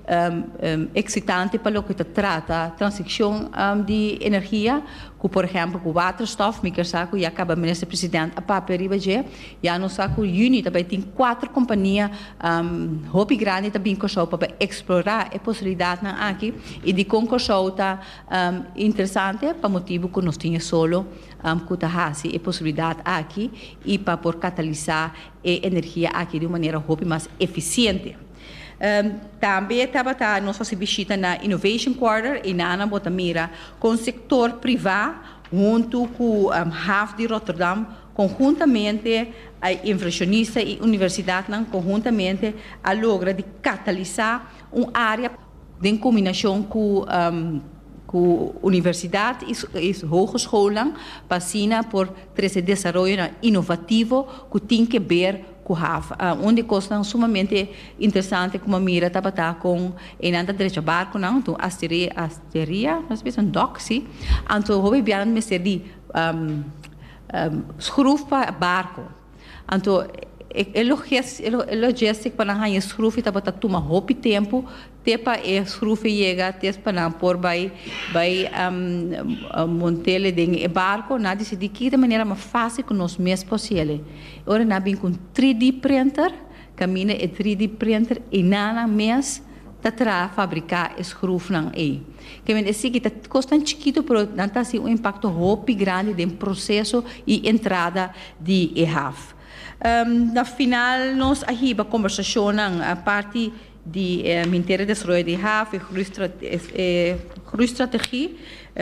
eksitante pa loke ta trata transikshon di energia, ku por ehèmpel ku waterstòf, mi ker sa ku ya kaba Minister President a papia riba dje. Ya nos sa ku yüni ta bai tin kuater kompania hopi grandi ta bin Kòrsou pa bai eksplorá e posibilidatnan aki i dikon Kòrsou ta interesante pa motibu ku nos tin e solo ku ta hasi e posibilidat aki i pa por katalisá e energia aki di un manera hopi mas efisiente. Tambe tabata nos hasi bishita na Innovation Quarter y nanan bo ta mira con sector priva hunto cu Hav di Rotterdam conhuntamente inversionista y universidadnan conhuntamente a logra di catalisa un area Den combinacion cu universidad y hogeschoolnan pa asina por trece desaroyonan inovativo cu tin ke ber cu haf. Un di cosnan sumamente interesante cu mi a mira tabata con eynan ta drecha barconan, anto un asteria, nos bisa un dock, si, anto hopi bianan mester di schruf pa barco. Anto e logistic pa nan haña e schroefie tabata tuma hopi tempo te pa e schroefie yega te pa nan por bai bai montele den e barco, nan a decidi kiko ta manera mas facil cu nos mes por haciele. Ora nan a bin cu un 3D printer. Camina e tri di printer y na nan mes ta traha fabrica e schruf nan ey. Caminda e siki ta cos tan chikito pero nan ta haci un impacto hopi grandi den proceso y entrada di e haf. Na final nos a hiba conversacionnan parti di e Minteria Desarrollo di Haf, e groei strategie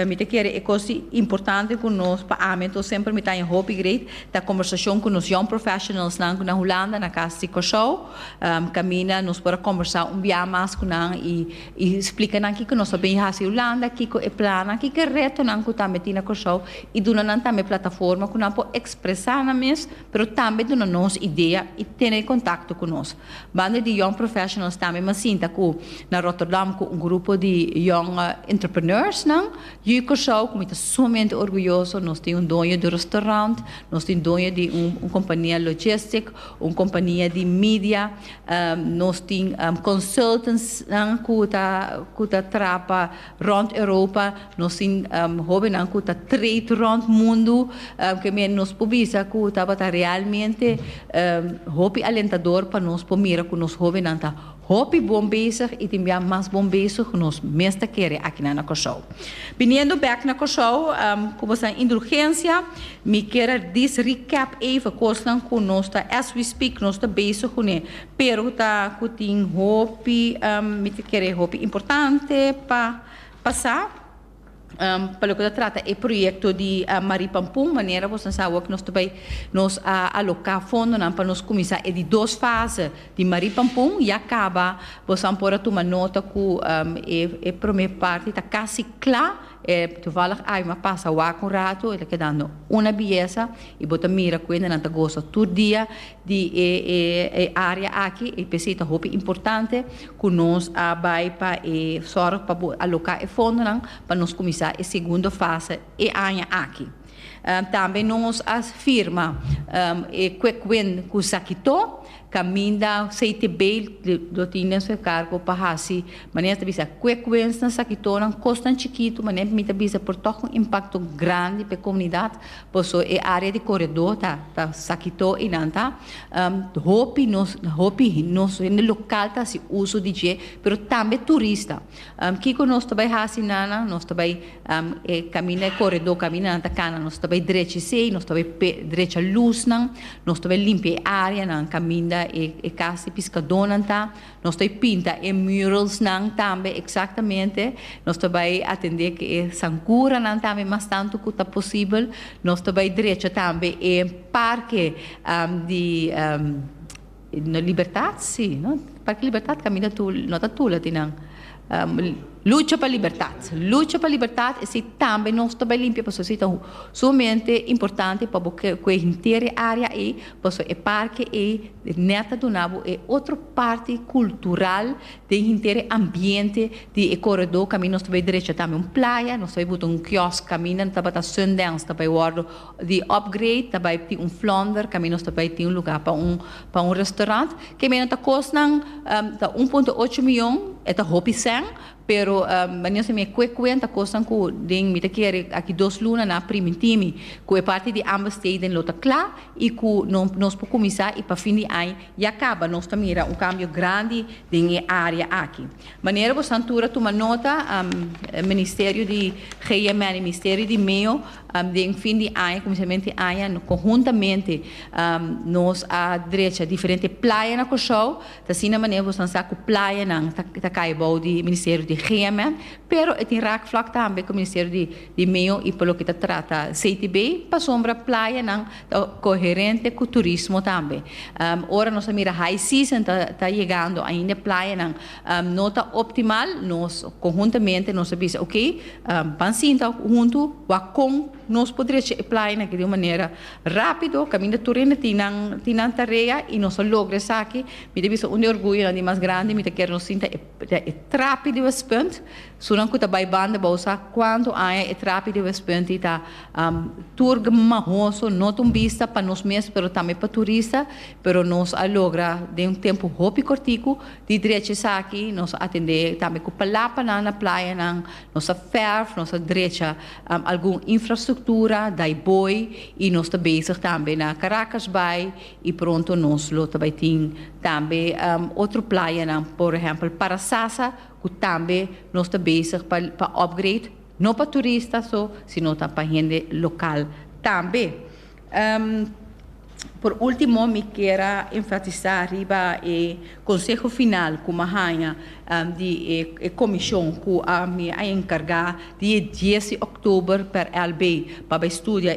Mi ta kere e kos importante ku nos, pa ami anto semper mi ta haña hopi great, ta kòmbersashon ku nos young professionalsnan ku na Hulanda, na kas di Kòrsou, kaminda nos por a kòmbersá un biaha mas ku nan i splika nan kiko nos ta bini hasi Hulanda, kiko e plannan, kiko e retonan ku tambe tin na Kòrsou i duna nan tambe e plataforma ku nan por ekspresá nan mes. pero tambe duna nos idea i tene contacto cu nos. Banda di Young Professionals tambe m'ha sinta cu na Rotterdam cu un grupo di young entrepreneursnan. Hui Curaçao, cu mi ta sumamente orguyoso, nos tin un doño di restaurant, nos tin doño di un compania logistic, un compania di media, nos tin consultantsnan cu ta trapa. Rond Europa nos tin hobennan cu ta treed rond mundu ke men nos por bisa cu tabata realmente hopi alentador pa nos por mira cu nos hobennan ta hopi bon bezig y tin bia mas bon bezig cu nos mes ta kere akinan na Corsou. Biniendo bek na Corsou cu bo sta indulgencia mi kier a dis recap even cosnan cu nos ta as we speak nos ta bezig cune Peru ta cu tin hopi, mi ta kere hopi importante pa pasa pa loke ta trata e proyecto di Marie Pampun. Manera boso a sa awor cu nos ta bay, nos a aloca fondonan pa nos cuminsa e di dos fase di Marie Pampun. Ya caba, boso a por a tuma nota cu e prome parti ta casi cla. Toevallig awe mi a pasa awaka un rato, e ta kedando una biesa y bo ta mira cu e nenan ta gosa tur dia. di e área aki, e p'esei ta hopi importante ku nos a bai pa e sòrg pa por aloká e fondonan pa nos kuminsá e segundo fase e aña aki. Tambe nos a firma e quick win ku Sakitó, kaminda CTB lo tin den su e kargo pa hasi, manera nan ta bisa, quick wins na Sakitó, nan kosnan chikitu, manera mi ta bisa por tòg un impakto grandi p'e komunidat. Paso e area di coredó ta ta sa Quito y nan ta um hopi nos hopi nos hende local ta haci uso di dje pero tambe turista. Um kico nos ta bay haci nan nan nos ta bay um e caminda e coredó caminda nan ta cana nos ta bay drecha esey nos ta bay pe drecha luznan nos ta bay limpia e area nan caminda e e casa di piscadónan ta Nos ta e pinta e muralsnan tambe exactamente. Nos ta bai atende cu e sancuranan tambe mas tanto cu ta posibel. Nos ta bai drecha tambe e Parque di Libertad, si, no? Parque Libertad caminda Tula, no ta Tula tin nan. Lucha pa libertat. Lucha pa libertat esei tambe nos ta bai limpia pasobra esei ta sumamente importante pa bo kue henter e área ei pasobra e parke ei nèt ta duna bo e otro parti kultural den henter e ambiente di e koredó kaminda nos ta bai derecha tambe un playa nos ta bai buta un kiosk kaminda tabata Sundance ta bai wòrdu Di upgrade ta bai tin un flonder kaminda nos ta bai tin un lugar pa un pa un restaurant. Ke menan ta kos nan ta un punto ocho miyon, e ta hopi sèn, pero bani nos ami e kue kuen ta kos nan ku den mi ta kere aki dos luna na primintinmi ku e parti di Amber Stadium lo ta kla i ku no nos por kuminsá i pa fin di aña ya kaba nos ta mira un kambio grandi den e área aki. Manera bosan tur a tuma nota, Ministerio di GMN i Misterio di Meo, Den fin di aña, kuminsament di aña, konhuntamente nos a drecha diferente playa na Kòrsou. Ta asina manera boso nan sa ku playanan ta kai bou di Ministerio di Heerenveen, pero e tin raakvlak tambe ku Ministerio di Meeu i pa loke ta trata Safety Bay, pasobra playanan ta koherente ku turismo tambe. Ora nos a mira high season ta yegando ainda e playanan no ta optimal, nos conhuntamente nos a bisa ok, ban sinta huntu wak con nos por drecha e playonan di un manera rapido, caminda tur hende tin nan tin nan tarea y nos a logra esaki, mi ta bisa un di orguyonan di mas grandi, mi ta kier nos sinta e e trapi di West Punt, sunan cu ta bay banda bao sa cuanto aña e trapi di West Punt di ta tur gmahoso, no ta un bista pa nos mes pero tambe pa turista, pero nos a logra den un tempo hopi cortico Di drechi esaki nos a atendé tambe ku palapanan na playanan, nos a fèrf, nos a drecha algun infrastruktura, dai boi i nos ta bezig tambe na Karakasbaai i pronto nos lo ta bai tin tambe otro playanan, por ehèmpel Parasasa ku tambe nos ta bezig pa pa opgrade, no pa turista so, sino ta pa hende lokal tambe. Por ultimo mi kier a enfatisa riba e konseho final ku mi a haña di e komishon ku mi a enkarga di e dies di òktober per LB pa bai studia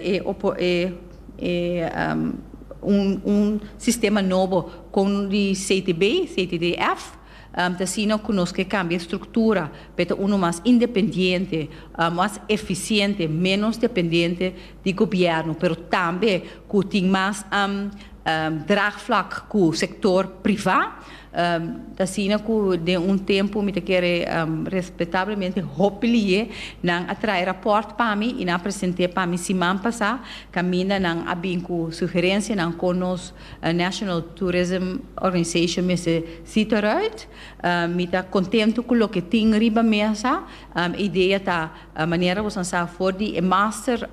un sistema nobo kon di CTB, CTDF. Ta así no ku nos ke kambia e struktura pa e ta unu mas independiente, mas efisiente, ménos dependiente di gobièrnu, pero tambe ku tin mas draagvlak ku sektor privá. Ta asina ku den un tempu mi ta kere respetablemente hopi liye, nan a trae rapòrt pa mi i nan a present'é pa mi siman pasá kaminda nan a bin ku sugerensianan kon nos E National Tourism Organization mester see it eruit. Mi ta contento cu loke tin riba mesa. E idea ta, manera boso a sa for di e master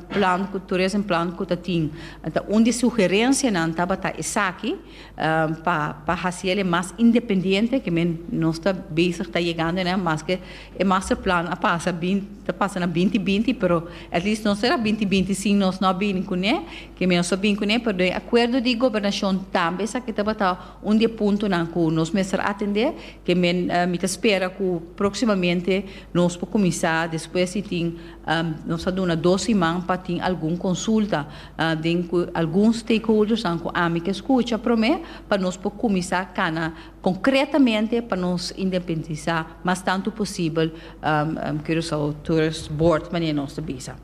plan, tourism plan cu ta tin, ta un di sugerencianan tabata esaki pa pa haciele mas independiente, ke men nos ta bezig ta yegando nan, maske e master plan a pasa bin ta pasa na binti binti, pero at least nos ta na binti binti sin nos no a bini cune. Ke mi nos a bin kuné, perdon, e akuerdo di gobernashon tambe esaki tabata un di e puntonan ku nos mester atendé. Ke men, mi ta spera ku próksimamente nos por kuminsá despues di tin, nos a duna dos siman pa tin algun konsulta den ku algun stakeholdersnan ku ami ke skucha promé pa nos por kuminsá kana konkretamente pa nos independisá mas tantu posibel Curaçao Tourist Board manera nos ta bisa.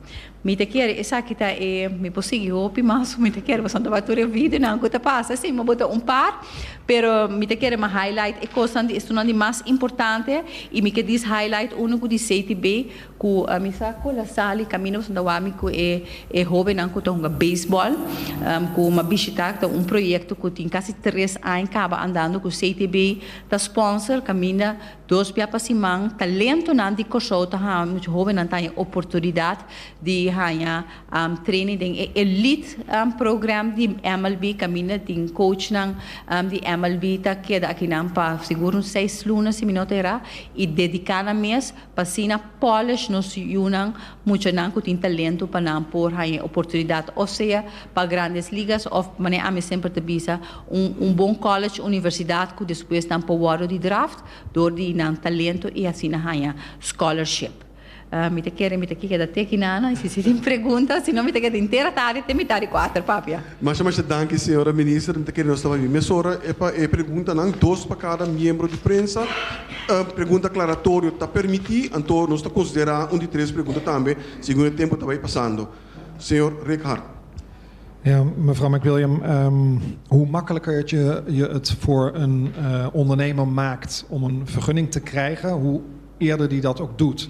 Mi ta kier esaki ta e, mi por sigui hopi mas, so mi ta kier pasobra tabata tur e videonan ku ta pasa si, mi bo ta un par, pero mi ta kier mi highlight e kosnan di estunan di mas importante i mi ke dies highlight unu ku di sei ti be ku mi sa kon a sali kaminda pasobra ta wak mi ku e e hobennan ku ta hunga beisbòl ku mi a bishitá ku ta un proyekto ku tin kasi tres aña kaba andando ku sei ti be ta spònser kaminda Dos bia pa siman, talentonan di Kòrsou ta haña mucha hóbennan ta haña oportunidat di haña training den e elite program di MLB. Kaminda tin coachnan di MLB ta keda akinan pa sigur un seis luna si mi no ta yera i dediká nan mes pa asina polish nos yunan Muchanan cu tin talento pa nan por haña e oportunidad o sea pa Grandes Ligas of, manera ami semper ta bisa, un un bon college, universidad cu despues nan por wordo di draft door di nan talento y asina haña scholarship. Mi ta kere mi ta keda te aki nana y si tin pregunta, si no mi ta keda intera tarde te mitad di cuater, papia. Masha masha danki señora minister, mi ta kere nos ta babi mesora e pa e preguntanan, dos pa cada miembro di prensa, pregunta aclaratorio ta permiti, anto nos ta considera un di tres pregunta tambe segun e tempo ta bay pasando. Señor Rikhar. Ja, mevrouw McWilliam, hoe makkelijker het je je het voor een ondernemer maakt om een vergunning te krijgen, hoe eerder die dat ook doet.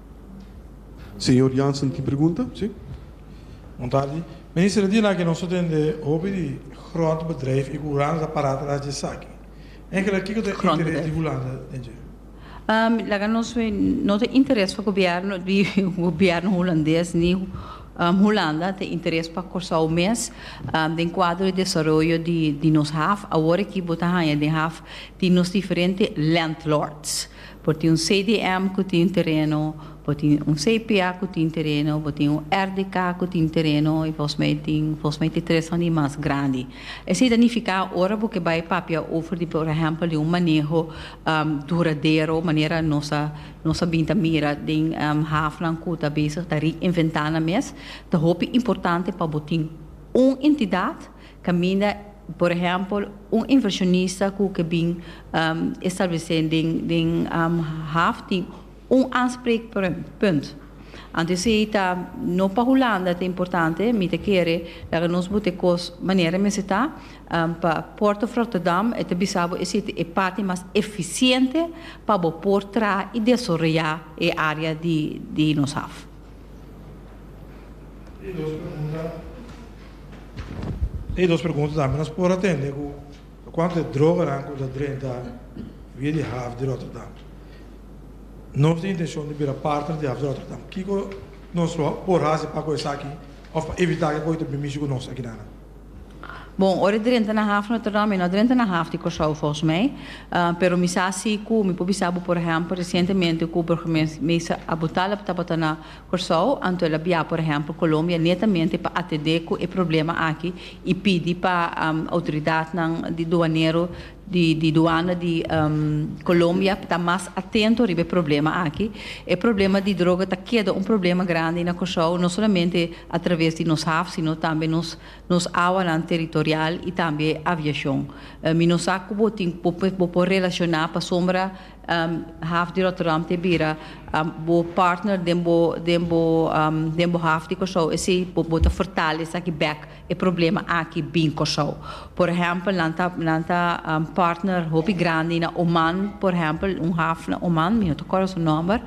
Señor Jansen tin pregunta, si. Bon tardi. Minister, e dia naki nos ta tende hopi di grond bedrijf i ku Hulanda ta pará tras di esaki. Enkele kiko ta e interes di Hulanda den dje? Mi laga nos wee, no ta interes pa gobièrnu di gobièrnu hulandes ni Hulanda ta interes pa Kòrsou mes den kuadro di desaroyo di nos haf. Awor aki bo ta haña den haf tin nos diferente lèndlòrds. Bo tin un CDM ku tin tereno, bo tin un CPA ku tin tereno, bo tin un RDK ku tin tereno i volgens mij tin volgens mij tin tres fandi mas grandi. Esei ta nifiká ora bo ke bai papia over di por ehèmpel di un maneho duradero manera nos a nos a bin ta mira den hafnan ku ta bezig ta reinventá nan mes, ta hopi importante pa bo tin un entidat, Caminda por ehempel un inversionista cu ke bin establece den Haaf tin un aanspreekpunt. Anto esey ta no pa Hulanda ta importante, mi ta kere laga nos bota e cos manera mester ta, pa Port of Rotterdam e ta bisa bo esey ta e parti mas eficiente pa bo por traha y desoroya e area di nos Haaf. E dos pregunta, e dos pregunta tambe nos por atende cu cuantu ta e droganan cu ta drenta via di Haaf di Rotterdam. Nos tin intencion di bira partner di Haaf di Rotterdam. Kico nos lo por haci pa cu esaki of pa evita cu e ta bini mishi cu nos aki nan? Bon, ora e drenta na haf Notre Dame, e no a drenta na haf di Kòrsou volgens mij. Pero mi sa si ku, mi por bisa bo por ehèmpel, resientemente ku burgemeester Abutaleb tabata na Kòrsou, anto el a bia por ehèmpel Colombia netamente pa atendé ku e problema aki i pidi pa outoridatnan di duanero di duana di Colombia ta mas atento riba e problema aki. E problema di droga ta keda un problema grandi na Kòrsou, no solamente a traves di nos haf, sino tambe nos nos awanan teritorial y tambe aviashon. Mi no sa ku bo tin bo bo por relashoná pasobra haf di Rotterdam ta bira bo partner den bo den bo den bo haf di Kòrsou esei bo ta fortale esaki bèk. E problema aki bin Kòrsou. Por ehèmpel nan ta nan ta partner hopi grandi na Oman, por ehèmpel un haf na Oman, mi no ta kòrda su nòmber,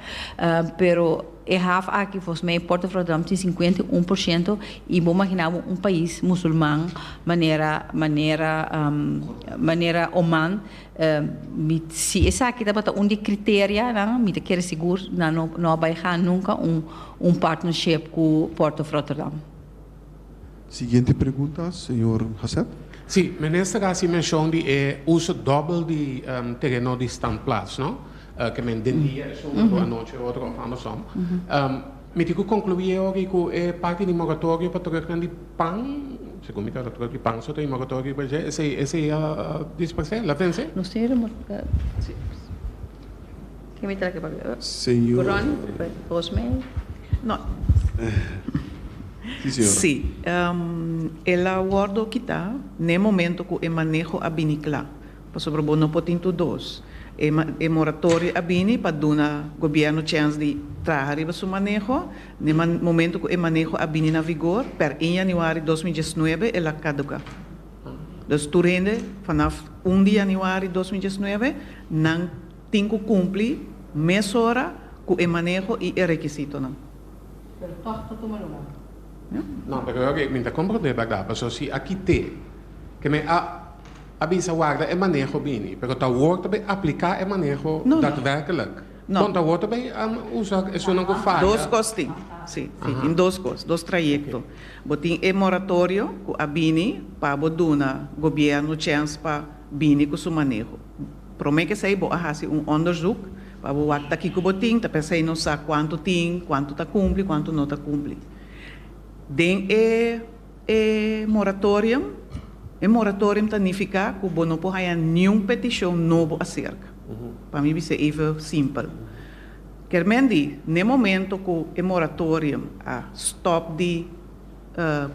pero e haf aki fòs mei Pòrto Fròdòm tin sinkuenta i un por shento i bo maginá bo un pais musulman manera manera manera Oman, mi si esaki tabata un di e kriterianan mi ta kere sigur nan no no a bai haña nunka un un partnership ku Pòrto Fròterdam. Siguiente pregunta señor Hassep. Si, Minister a haci mencion di e uso dobel di tereno di standplaats no, ke men den dia e suma lo anochi e otro of andersom. Mi tin ku konkluí e oki ku e parti di moratorio pa terugnan di pan, segun mi ta hora terug di pan so ta e moratorio pa dje, esei a dispers'é, la vens'é? Lo cierra moratorio. Sí, el a wòrdu kitá na e momento ku e maneho a bini kla, pasobra bo no por tin tur dos. E moratorio a bini pa duna gobièrnu chèns di traha riba su maneho. Na e momento ku e maneho a bini na vigor, pèr un yanüari dos mi diesnuebe, el a kaduká. Dus tur hende, fanaf un di yanüari dos mi diesnuebe, nan. Tin ku kumpli mesora ku e maneho i e rekisitonan. Pero tòg ta tuma lugá. No, pero oke, mi ta komprondé bèrdat, paso si a kit'é ke mi a bisa warda e maneho bini, pero ta wor ta bai apliká e maneho datwèrklik, bon ta wor ta bai usa esunnan ku faya. Dos kos tin, si, si tin dos kos, dos trayekto. Bo tin e moratorio ku a bini pa bo duna gobièrnu chèns pa bini ku su maneho. Prome kesei bo a hasi un onderzoek pa bo wak ta kiko bo tin, ta p'esei nos sa kuantu tin, kuantu ta kumpli, kuantu no ta kumpli. Den e e moratorium, e moratorium ta nifiká ku bo no por haña niun petishon nobo aserka. Pa mi bis'é even simpel. Ker men di, n'e momento ku e moratorium a stòp di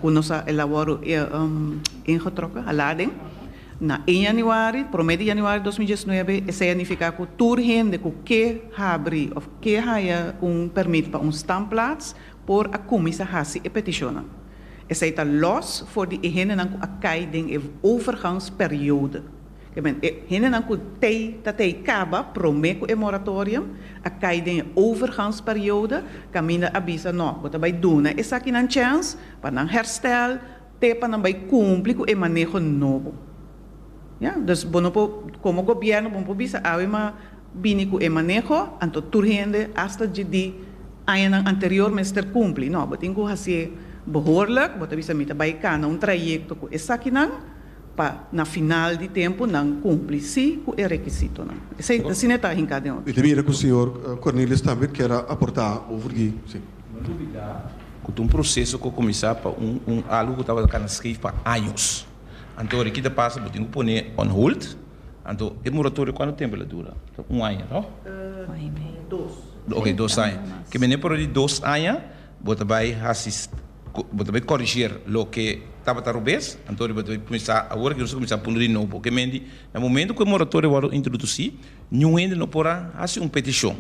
ku nos a elabora e ingetrokken, hala den, Na e yanuari, promé di yanuari dos mil diesnuebe, esei a nifiká ku tur hende ku ke habri òf ke haya un pèrmit pa un stamplaats por a kuminsá hasi e petishonnan. Esei ta lòs for di e hendenan ku a kai den e overgangsperiode. Ke men, e hendenan ku t'ei ta t'ei kaba promé ku e moratorium, a kai den e overgangsperiode, kaminda a bisa, Nò, bo ta bai duna esakinan chèns pa nan hèrstel, Te pa nan bai cumpli cu e maneho nobo. Ya, dus bo no por, como gobierno, bo no por bisa awe ma bini cu e maneho, anto tur hende, hasta dje di añanan anterior mester cumpli. No, bo tin cu haci'e behoorlijk, bo ta bisa mi ta bai cana un trayecto cu esakinan pa na final di tempo nan cumpli si cu e requisitonan. Esei, asina e ta hinca den oro. Mi ta mira cu señor Cornelius tambe kier a aporta over di. Cu ta un proceso cu a cuminsa pa un algo cu tabata cana scave pa años. Anto ora e kita pasa bo tin cu pone on hold. Anto e moratorio cuantu tempo e la dura? Ta un aña no? Ok dos aña. Ke mene pero di dos aña bo ta bay haci, bo ta bay corriger loke tabata robes. Anto ora bo ta bay cuminsa, awor ke nos a cuminsa punu di nobo. Ke mene di na momento cu e moratorio a wordo introduci. Niun hende no por a hasi un petishon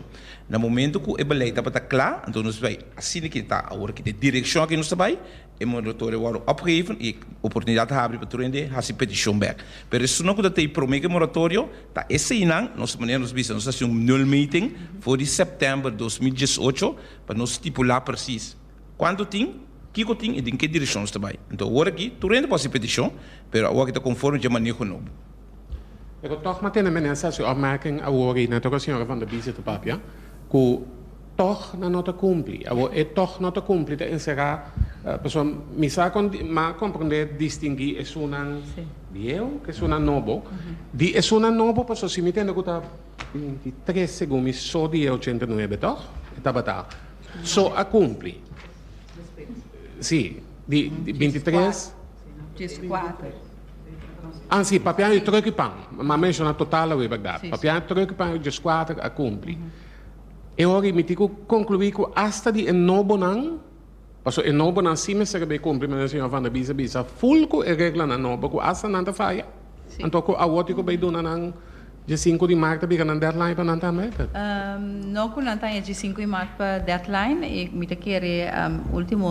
na momentu ku e belei tabata kla. Anto nos bai asina ke ta awor ki ta e direkshon ke nos ta bai. E moratoria a wòrdu opgeheven i oportunidat ta habri pa tur hende hasi petishon bèk. Pero esunnan ku ta tei promé ku e moratorio ta eseinan. Nos manera nos bisa nos ta hasi un nulmeting for di sèptèmber dos mil diesh ocho pa nos stipulá persis kuantu tin, kiko tin i den ke direkshon nos ta bai. Anto awor aki tur hende por hasi petishon pero awor aki ta konforme dje maneho nobo. E ku tòg matene menen sa su opmerking awor i nan ta ku a señora van der Bize ta papia ku tòg nan no ta kumpli. Awor e tòg no ta kumpli ta enserá pasobra mi sa kon m'a komprondé distingui esunnan bieu ku esunnan nobo. Di esunnan nobo pasobra si mi tende ku ta binti i tres segun mi so di e ochenta i nuebe tòg e tabata so a kumpli. Si di binti i tres. Jes kuater. Ah si, papiá e tròk i pan. M'a menshoná total awé, bèrdat? Papiá, tròk i pan i jes kuater a kumpli. E ora i miti ku konkluí ku asta di e nobonan, paso e nobonan si mester a bai kumpli, manera e señor Van der Bies a bisa, ful ku e reglanan nobo ku asta nan ta faya. Anto cu awor tin cu bay duna nan dje sinku di maart ta bica nan deadline pa nan ta amended? No cu nan ta aña dje sinku di maart pa deadline y mi ta kere ultimo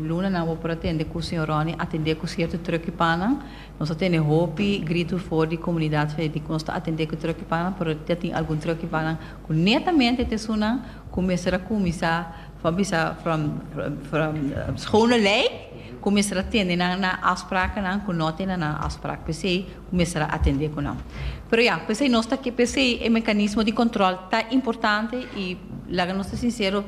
luna nan awor por a tende cu señor Ronnie a tende cu cierto trucki panan. Nos a tene hopi grito for di comunidad fe di cu nos ta atende cu trucki panan pero ta tin algun trucki panan cu netamente ta esunnan cu mester a cuminsa Bo bisa from from schone lei ku mester a tende nan na afsprakennan ku no tende nan afsprak p'esei ku mester a atendé ku nan. Pero ya, p'esei nos ta ke p'esei e mekanismo di kòntròl ta importante i laga nos ta sinsero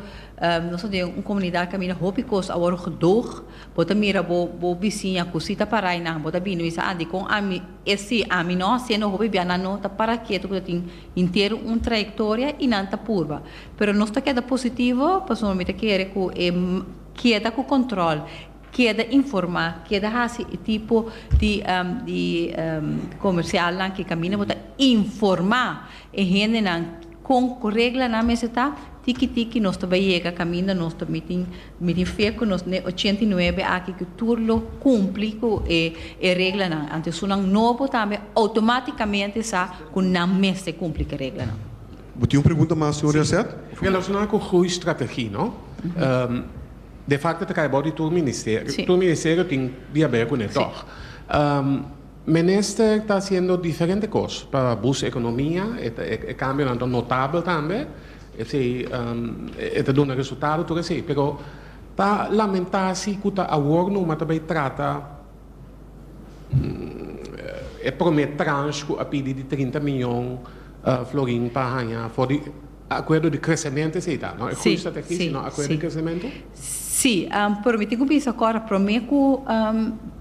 nos ta den un komunidat kaminda hopi kos a wòrdu gedoog. Bo ta mira bo bo bisiña ku si ta parai nan bo ta bini bo bisa a dikon ami e si ami no siendo hopi bia nan no ta para ketu ku ta tin henter un trayektoria i nan ta purba. Pero nos ta keda positivo pasobra mi ta kere ku e keda ku kontròl, keda informá, keda hasi e tipo di di komersialnan ku kaminda bo ta informá e hendenan kon ku reglanan mester ta, tiki tiki nos ta bai yega kaminda nos ta mitin mitin fe ku nos den ochenta i nuebe aki ku tur lo kumpli ku e e reglanan. Anto esun nan nobo tambe outomátikamente sa ku nan mester kumpli ku e reglanan. Bo tin un pregunta mas señor Jacet? Si, relacionado cu groei strategie no, de facto ta cay abao di tur ministerio, tur ministerio tin di haber cun'e tog. Minister ta haciendo diferente cos pa bus economia, e cambionan ta notable tambe, esey e ta duna resultado tur esey, pero ta lamenta si cu ta awor numa ta bay trata. E prome transh ku a pidi di trinta miyon florin pa haña for di akuerdo di kresementu esei ta? No e groei strategi sino akuerdo di kresementu? Si, pero mi tin ku bisa kòrda prome ku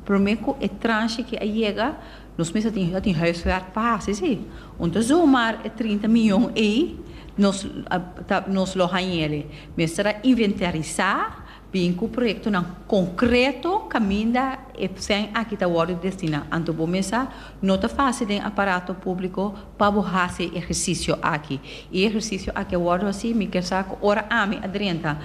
prome ku e transh aki a yega nos mester tin a tin huiswerk pa hasi si. Un ta zomar e trinta miyon ei nos lo haña ele. Mester a inventarisá. Bin cu proyectonan concreto caminda e cen aki ta wordo destina. Anto bo mesa no ta faci den aparato publico pa bo haci e ehercicio aki. Y e ehercicio aki a wordo haci, mi kier sa cu ora ami a drenta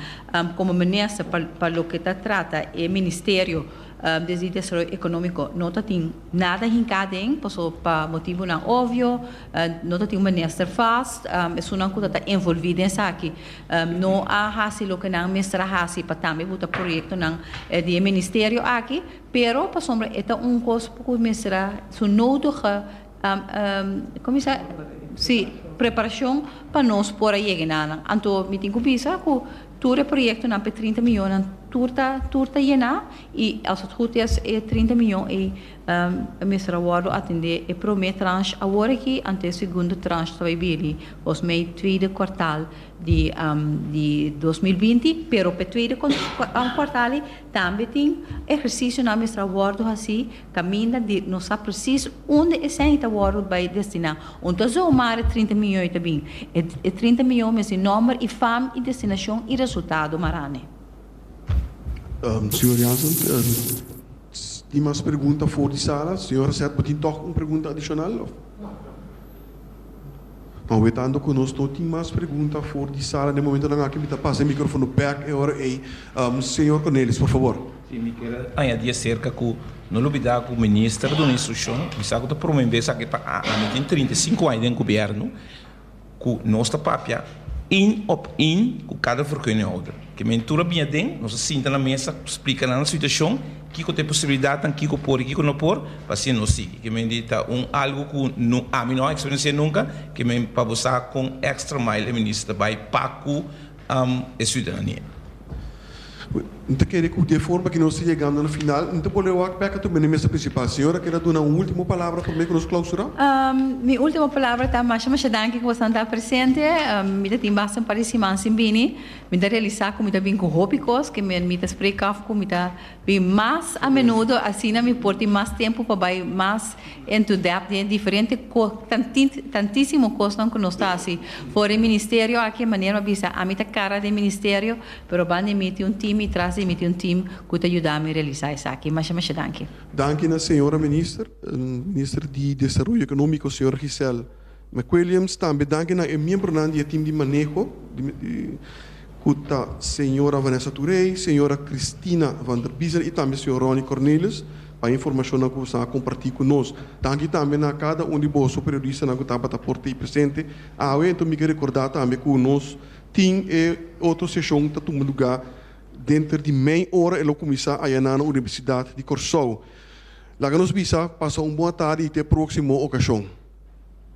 como minister pa loke ta trata e Ministerio di Desaroyo Economico no ta tin nada hinca den, pasobra pa motibonan obvio no ta tin un minister vast. Esunnan cu ta ta envolvi den esaki. No a hasi loke nan mester a hasi pa tambe buta proyektonan di e ministerio aki, pero pasobra e ta un kos ku mester a su nodige, komo se, si, preparashon pa nos por a yega enanan. Anto mi tin ku bisa ku tur e proyektonan pa e trinta miónnan tur ta tur ta yená i als het goed is e trinta mión ei E mester a wòrdu atendé e promé transh awor aki anto e segundo transh ta bai bini bos mei tweede kwartal di di dos mil binti, pero p'e tweede kwartal ei tambe tin ehersisionan a mester a wòrdu hasí kaminda di nos sa presis unda esèn ei ta wòrdu bai destiná. Un ta zoomá e trinta mion ei ta bin. E trinta mion mes di nòmber i fam i destinashon i resultado maran'e. Señor Jansen, S tin mas pregunta for di sala? Señor Reset bo tin tog un pregunta adicional of? No. Hoetanto cu nos no tin mas pregunta for di sala den momento nan aki mi ta pasa e microfono bek e ora ey. Señor Cornelis, por favor. Si, mi kier añadi acerca cu no lo bida cu Minister a duna instruccion. Mi sa cu ta prome bes aki pa ami tin trinta i sinku aña den Gobierno. ku nos ta papia in op in ku kada verkeuningouder. Ke mentur a bini aden, nos a sinta na mesa, splika nan situashon, kiko ta e posibilidatnan, kiko por i kiko no por, pa asina nos sigui. Ke men di ta un algu ku no ami no a eksperensi'é nunka, ke men pa bo sa kon extra mile e Minister ta bai pa ku, Amo e ciudadania. N ta kere cu de forma cu nos ta yegando na final, N ta bolbe wak bek tur mene mesa principal. Señor a keda duna un ultimo palabra prome cu nos clausura? Mi ultimo palabra ta masha masha danki cu bosonan ta presente. Mi ta tin basta un par di siman sin bini. Mi ta realisa cu mi ta bin cu hopi cos cu mi ta spreek af cu mi ta Mi mas a menudo, asina mi por tin mas tempu pa bai mas into depth di e diferente tantisimo cosnan cu nos ta haci for e ministerio aki. E manera mi a bisa, ami ta cara di e ministerio, pero banda di mi tin un team y tras di mi tin un team cu ta yuda mi realisa esaki. Masha masha danki. Danki na señora Minister, Minister di Desaroyo Economico, señora Giselle. McWilliams tambe danki na e miembronan di e tim di maneho ku ta señora Vanessa Touré, señora Christina van der Biesel i tambe señor Ronnie Cornelius pa e informashonnan ku boso a kompartí ku nos. Danki tambe na kada un di boso periodistanan ku tabata por ta presente awe. Anto mi ke rekordá tambe ku nos tin e otro seshon ta tuma lugá denter di mei ora e lo kuminsá ayaná na Universidat di Kòrsou. Laga nos bisa pasa un bon atardi i te e próksimo okashon.